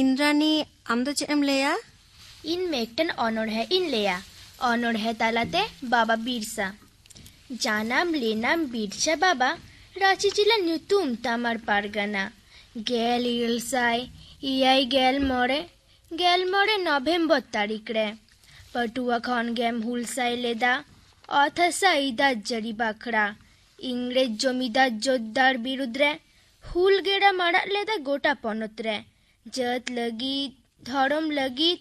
ᱤᱱᱫᱨᱟᱱᱤ ᱟᱢ ᱫᱚ ᱪᱮᱫ ᱮᱢ ᱞᱟᱹᱭᱟ ᱤᱧ ᱢᱤᱫᱴᱮᱱ ᱚᱱᱚᱬᱦᱮ ᱤᱧ ᱞᱟᱹᱭᱟ ᱚᱱᱚᱬᱦᱮ ᱛᱟᱞᱟᱛᱮ ᱵᱟᱵᱟ ᱵᱤᱨᱥᱟ ᱡᱟᱱᱟᱢ ᱞᱮᱱᱟᱢ ᱵᱤᱨᱥᱟ ᱵᱟᱵᱟ ᱨᱟᱺᱪᱤ ᱡᱮᱞᱟ ᱧᱩᱛᱩᱢ ᱛᱟᱢᱟᱨ ᱯᱟᱨᱜᱟᱱᱟ ᱜᱮᱞ ᱤᱨᱟᱹᱞ ᱥᱟᱭ ᱮᱭᱟᱭ ᱜᱮᱞ ᱢᱚᱬᱮ ᱜᱮᱞ ᱢᱚᱬᱮ ᱱᱚᱵᱷᱮᱢᱵᱚᱨ ᱛᱟᱹᱨᱤᱠᱷ ᱨᱮ ᱯᱟᱹᱴᱩᱣᱟᱹ ᱠᱷᱚᱱ ᱜᱮᱢ ᱦᱩᱞᱥᱟᱭ ᱞᱮᱫᱟ ᱚᱛ ᱦᱟᱥᱟ ᱟᱹᱭᱫᱟᱨ ᱡᱟᱹᱨᱤ ᱵᱟᱠᱷᱨᱟ ᱤᱝᱨᱮᱡᱽ ᱡᱚᱢᱤᱫᱟᱨ ᱡᱳᱫᱽᱫᱟᱨ ᱵᱤᱨᱩᱫᱽ ᱨᱮ ᱦᱩᱞ ᱜᱮᱲᱟᱢ ᱟᱲᱟᱜ ᱞᱮᱫᱟ ᱜᱚᱴᱟ ᱯᱚᱱᱚᱛ ᱨᱮ ᱡᱟᱹᱛ ᱞᱟᱹᱜᱤᱫ ᱫᱷᱚᱨᱚᱢ ᱞᱟᱹᱜᱤᱫ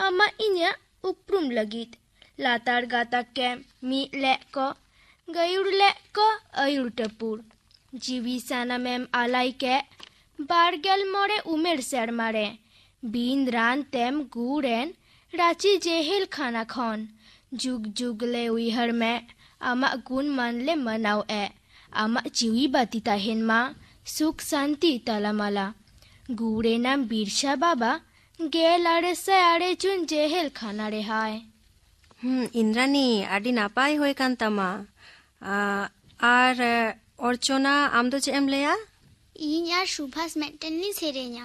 ᱟᱢᱟᱜ ᱤᱧᱟᱹᱜ ᱩᱯᱨᱩᱢ ᱞᱟᱹᱜᱤᱫ ᱞᱟᱛᱟᱨ ᱜᱟᱛᱟᱠ ᱠᱮ ᱢᱤᱫ ᱞᱮᱫ ᱠᱚ ᱜᱟᱹᱭᱩᱲ ᱞᱮᱫ ᱠᱚ ᱟᱹᱭᱩᱨ ᱴᱟᱹᱯᱩᱨ ᱡᱤᱣᱤ ᱥᱟᱱᱟᱢᱮᱢ ᱟᱞᱟᱭ ᱠᱮᱫ ᱵᱟᱨᱜᱮᱞ ᱢᱚᱬᱮ ᱩᱢᱮᱨ ᱥᱮᱨᱢᱟ ᱨᱮ ᱵᱤᱱ ᱨᱟᱱ ᱛᱮᱢ ᱜᱩᱲ ᱮᱱ ᱨᱟᱸᱪᱤ ᱡᱮᱦᱮᱞ ᱠᱷᱟᱱᱟ ᱠᱷᱚᱱ ᱡᱩᱜᱽ ᱡᱩᱜᱽ ᱞᱮ ᱩᱭᱦᱟᱹᱨ ᱢᱮ ᱟᱢᱟᱜ ᱜᱩᱱ ᱢᱟᱱ ᱞᱮ ᱢᱟᱱᱟᱣ ᱮ ᱟᱢᱟᱜ ᱡᱤᱣᱤ ᱵᱟᱹᱛᱤ ᱛᱟᱦᱮᱱ ᱢᱟ ᱥᱩᱠ ᱥᱟᱱᱛᱤ ᱛᱟᱞᱟᱢᱟᱞᱟ ᱜᱩᱲ ᱮᱱᱟᱢ ᱵᱤᱨᱥᱟ ᱵᱟᱵᱟ ᱜᱮᱞ ᱟᱨᱮ ᱥᱟᱭ ᱟᱨᱮ ᱡᱩᱱ ᱡᱮᱦᱮᱞ ᱠᱷᱟᱱᱟ ᱨᱮᱦᱟᱭ ᱦᱩᱸ ᱤᱱᱫᱨᱟᱱᱤ ᱟᱹᱰᱤ ᱱᱟᱯᱟᱭ ᱦᱩᱭ ᱠᱟᱱ ᱛᱟᱢᱟ ᱟᱨ ᱚᱨᱪᱚᱱᱟ ᱟᱢ ᱫᱚ ᱪᱮᱫ ᱮᱢ ᱞᱟᱹᱭᱟ ᱤᱧ ᱟᱨ ᱥᱩᱵᱷᱟᱥ ᱢᱤᱫᱴᱮᱱ ᱞᱤᱧ ᱥᱮᱨᱮᱧᱟ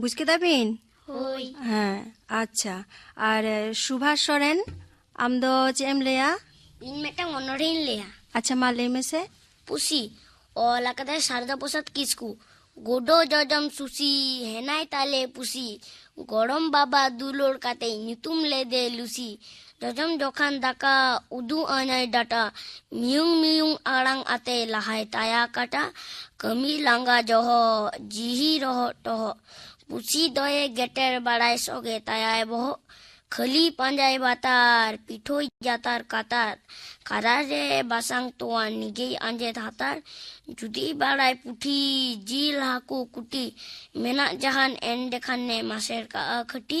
ᱵᱩᱡᱽ ᱠᱮᱫᱟ ᱵᱤᱱ ᱦᱳᱭ ᱦᱮᱸ ᱟᱪᱪᱷᱟ ᱟᱨ ᱥᱩᱵᱷᱟᱥ ᱥᱚᱨᱮᱱ ᱟᱢ ᱫᱚ ᱪᱮᱫ ᱮᱢ ᱞᱟᱹᱭᱟ ᱤᱧ ᱢᱤᱫᱴᱟᱝ ᱚᱱᱚᱲᱦᱮᱧ ᱞᱟᱹᱭᱟ ᱟᱪᱪᱷᱟ ᱢᱟ ᱞᱟᱹᱭ ᱢᱮᱥᱮ ᱯᱩᱥᱤ ᱚᱞ ᱟᱠᱟᱫᱟᱭ ᱥᱟᱨᱫᱟ ᱯᱨᱚᱥᱟᱫᱽ ᱠᱤᱥᱠᱩ ᱜᱳᱰᱳ ᱡᱚᱡᱚᱢ ᱥᱩᱥᱤ ᱦᱮᱱᱟᱭ ᱛᱟᱞᱮ ᱯᱩᱥᱤ ᱜᱚᱲᱚᱢ ᱵᱟᱵᱟ ᱫᱩᱞᱟᱹᱲ ᱠᱟᱛᱮ ᱧᱩᱛᱩᱢ ᱞᱮᱫᱮ ᱞᱩᱥᱤ ᱡᱚᱡᱚᱢ ᱡᱚᱠᱷᱟᱱ ᱫᱟᱠᱟ ᱩᱫᱩᱜ ᱟᱹᱧᱟᱭ ᱰᱟᱴᱟ ᱢᱤᱭᱩᱝ ᱢᱤᱭᱩᱝ ᱟᱲᱟᱝ ᱟᱛᱮ ᱞᱟᱦᱟᱭ ᱛᱟᱭᱟ ᱠᱟᱴᱟ ᱠᱟᱹᱢᱤ ᱞᱟᱸᱜᱟ ᱡᱚᱦᱚᱜ ᱡᱤᱦᱤ ᱨᱚᱦᱚᱜ ᱴᱚᱦᱚᱜ ᱯᱩᱥᱤ ᱫᱚᱭᱮ ᱜᱮᱴᱮᱨ ᱵᱟᱲᱟᱭ ᱥᱚᱜᱮ ᱛᱟᱭᱟᱭ ᱵᱚᱦᱚᱜ ᱠᱷᱟᱹᱞᱤ ᱯᱟᱸᱡᱟᱭ ᱵᱟᱛᱟᱨ ᱯᱤᱴᱷᱳᱭ ᱡᱟᱛᱟᱨ ᱠᱟᱛᱟᱨ ᱠᱟᱨᱟ ᱨᱮ ᱵᱟᱥᱟᱝ ᱛᱚᱣᱟ ᱱᱤᱡᱮᱭ ᱟᱸᱡᱮᱫ ᱦᱟᱛᱟᱨ ᱡᱩᱫᱤ ᱵᱟᱲᱟᱭ ᱯᱩᱴᱷᱤ ᱡᱤᱞ ᱦᱟᱹᱠᱩ ᱠᱩᱴᱤ ᱢᱮᱱᱟᱜ ᱡᱟᱦᱟᱱ ᱮᱱᱰᱮᱠᱷᱟᱱᱮ ᱢᱟᱥᱮᱨ ᱠᱟᱜᱼᱟ ᱠᱷᱟᱹᱴᱤ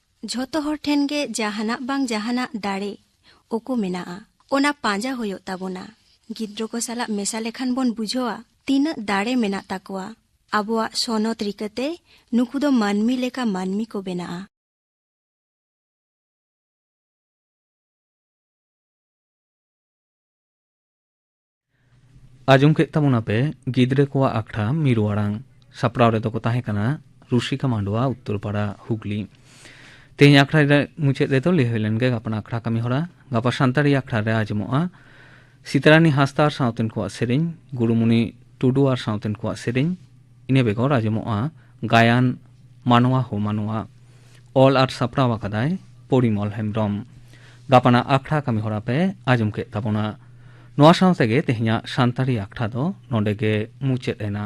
ᱡᱷᱚᱛᱚ ᱦᱚᱲ ᱴᱷᱮᱱ ᱜᱮ ᱡᱟᱦᱟᱱᱟᱜ ᱵᱟᱝ ᱡᱟᱦᱟᱱᱟᱜ ᱫᱟᱲᱮ ᱳᱠᱳ ᱢᱮᱱᱟᱜᱼᱟ ᱚᱱᱟ ᱯᱟᱸᱡᱟ ᱦᱩᱭᱩᱜ ᱛᱟᱵᱚᱱᱟ ᱜᱤᱫᱽᱨᱟᱹ ᱠᱚ ᱥᱟᱞᱟᱜ ᱢᱮᱥᱟ ᱞᱮᱠᱷᱟᱱ ᱵᱚᱱ ᱵᱩᱡᱷᱟᱹᱣᱟ ᱛᱤᱱᱟᱹᱜ ᱫᱟᱲᱮ ᱢᱮᱱᱟᱜ ᱛᱟᱠᱚᱣᱟ ᱟᱵᱚᱣᱟᱜ ᱥᱚᱱᱚᱛ ᱨᱤᱠᱟᱹᱛᱮ ᱱᱩᱠᱩ ᱫᱚ ᱢᱟᱹᱱᱢᱤ ᱞᱮᱠᱟ ᱢᱟᱹᱱᱢᱤ ᱠᱚ ᱵᱮᱱᱟᱜᱼᱟ ᱟᱸᱡᱚᱢ ᱠᱮᱫ ᱛᱟᱵᱚᱱᱟ ᱯᱮ ᱜᱤᱫᱽᱨᱟᱹ ᱠᱚᱣᱟᱜ ᱟᱠᱷᱲᱟ ᱢᱤᱨᱩ ᱟᱲᱟᱝ ᱥᱟᱯᱲᱟᱣ ᱨᱮᱫᱚ ᱠᱚ ᱛᱟᱦᱮᱸ ᱠᱟᱱᱟ ᱨᱩᱥᱤᱠᱟ ᱢᱟᱱᱰᱣᱟ ᱩᱛᱛᱚᱨᱯᱟᱲᱟ ᱦᱩᱜᱽᱞᱤ ᱛᱮᱦᱮᱧ ᱟᱠᱷᱲᱟ ᱨᱮ ᱢᱩᱪᱟᱹᱫ ᱨᱮᱫᱚ ᱞᱟᱹᱭ ᱦᱩᱭ ᱞᱮᱱ ᱜᱮ ᱜᱟᱯᱟᱱ ᱟᱠᱷᱲᱟ ᱠᱟᱹᱢᱤ ᱦᱚᱨᱟ ᱜᱟᱯᱟ ᱥᱟᱱᱛᱟᱲᱤ ᱟᱠᱷᱲᱟ ᱨᱮ ᱟᱸᱡᱚᱢᱚᱜᱼᱟ ᱥᱤᱛᱟᱨᱟᱱᱤ ᱦᱟᱸᱥᱫᱟ ᱟᱨ ᱥᱟᱶᱛᱮᱱ ᱠᱚᱣᱟᱜ ᱥᱮᱨᱮᱧ ᱜᱩᱨᱩᱢᱩᱱᱤ ᱴᱩᱰᱩ ᱟᱨ ᱥᱟᱶᱛᱮᱱ ᱠᱚᱣᱟᱜ ᱥᱮᱨᱮᱧ ᱤᱱᱟᱹ ᱵᱮᱜᱚᱨ ᱟᱸᱡᱚᱢᱚᱜᱼᱟ ᱜᱟᱭᱟᱱ ᱢᱟᱱᱣᱟ ᱦᱚ ᱢᱟᱱᱣᱟ ᱚᱞ ᱟᱨ ᱥᱟᱯᱲᱟᱣ ᱟᱠᱟᱫᱟᱭ ᱯᱚᱨᱤᱢᱚᱞ ᱦᱮᱢᱵᱨᱚᱢ ᱜᱟᱯᱟᱱᱟ ᱟᱠᱷᱲᱟ ᱠᱟᱹᱢᱤ ᱦᱚᱨᱟ ᱯᱮ ᱟᱸᱡᱚᱢ ᱠᱮᱫ ᱛᱟᱵᱚᱱᱟ ᱱᱚᱣᱟ ᱥᱟᱶ ᱛᱮᱜᱮ ᱛᱮᱦᱮᱧᱟᱜ ᱥᱟᱱᱛᱟᱲᱤ ᱟᱠᱷᱲᱟ ᱫᱚ ᱱᱚᱰᱮ ᱜᱮ ᱢᱩᱪᱟᱹᱫ ᱮᱱᱟ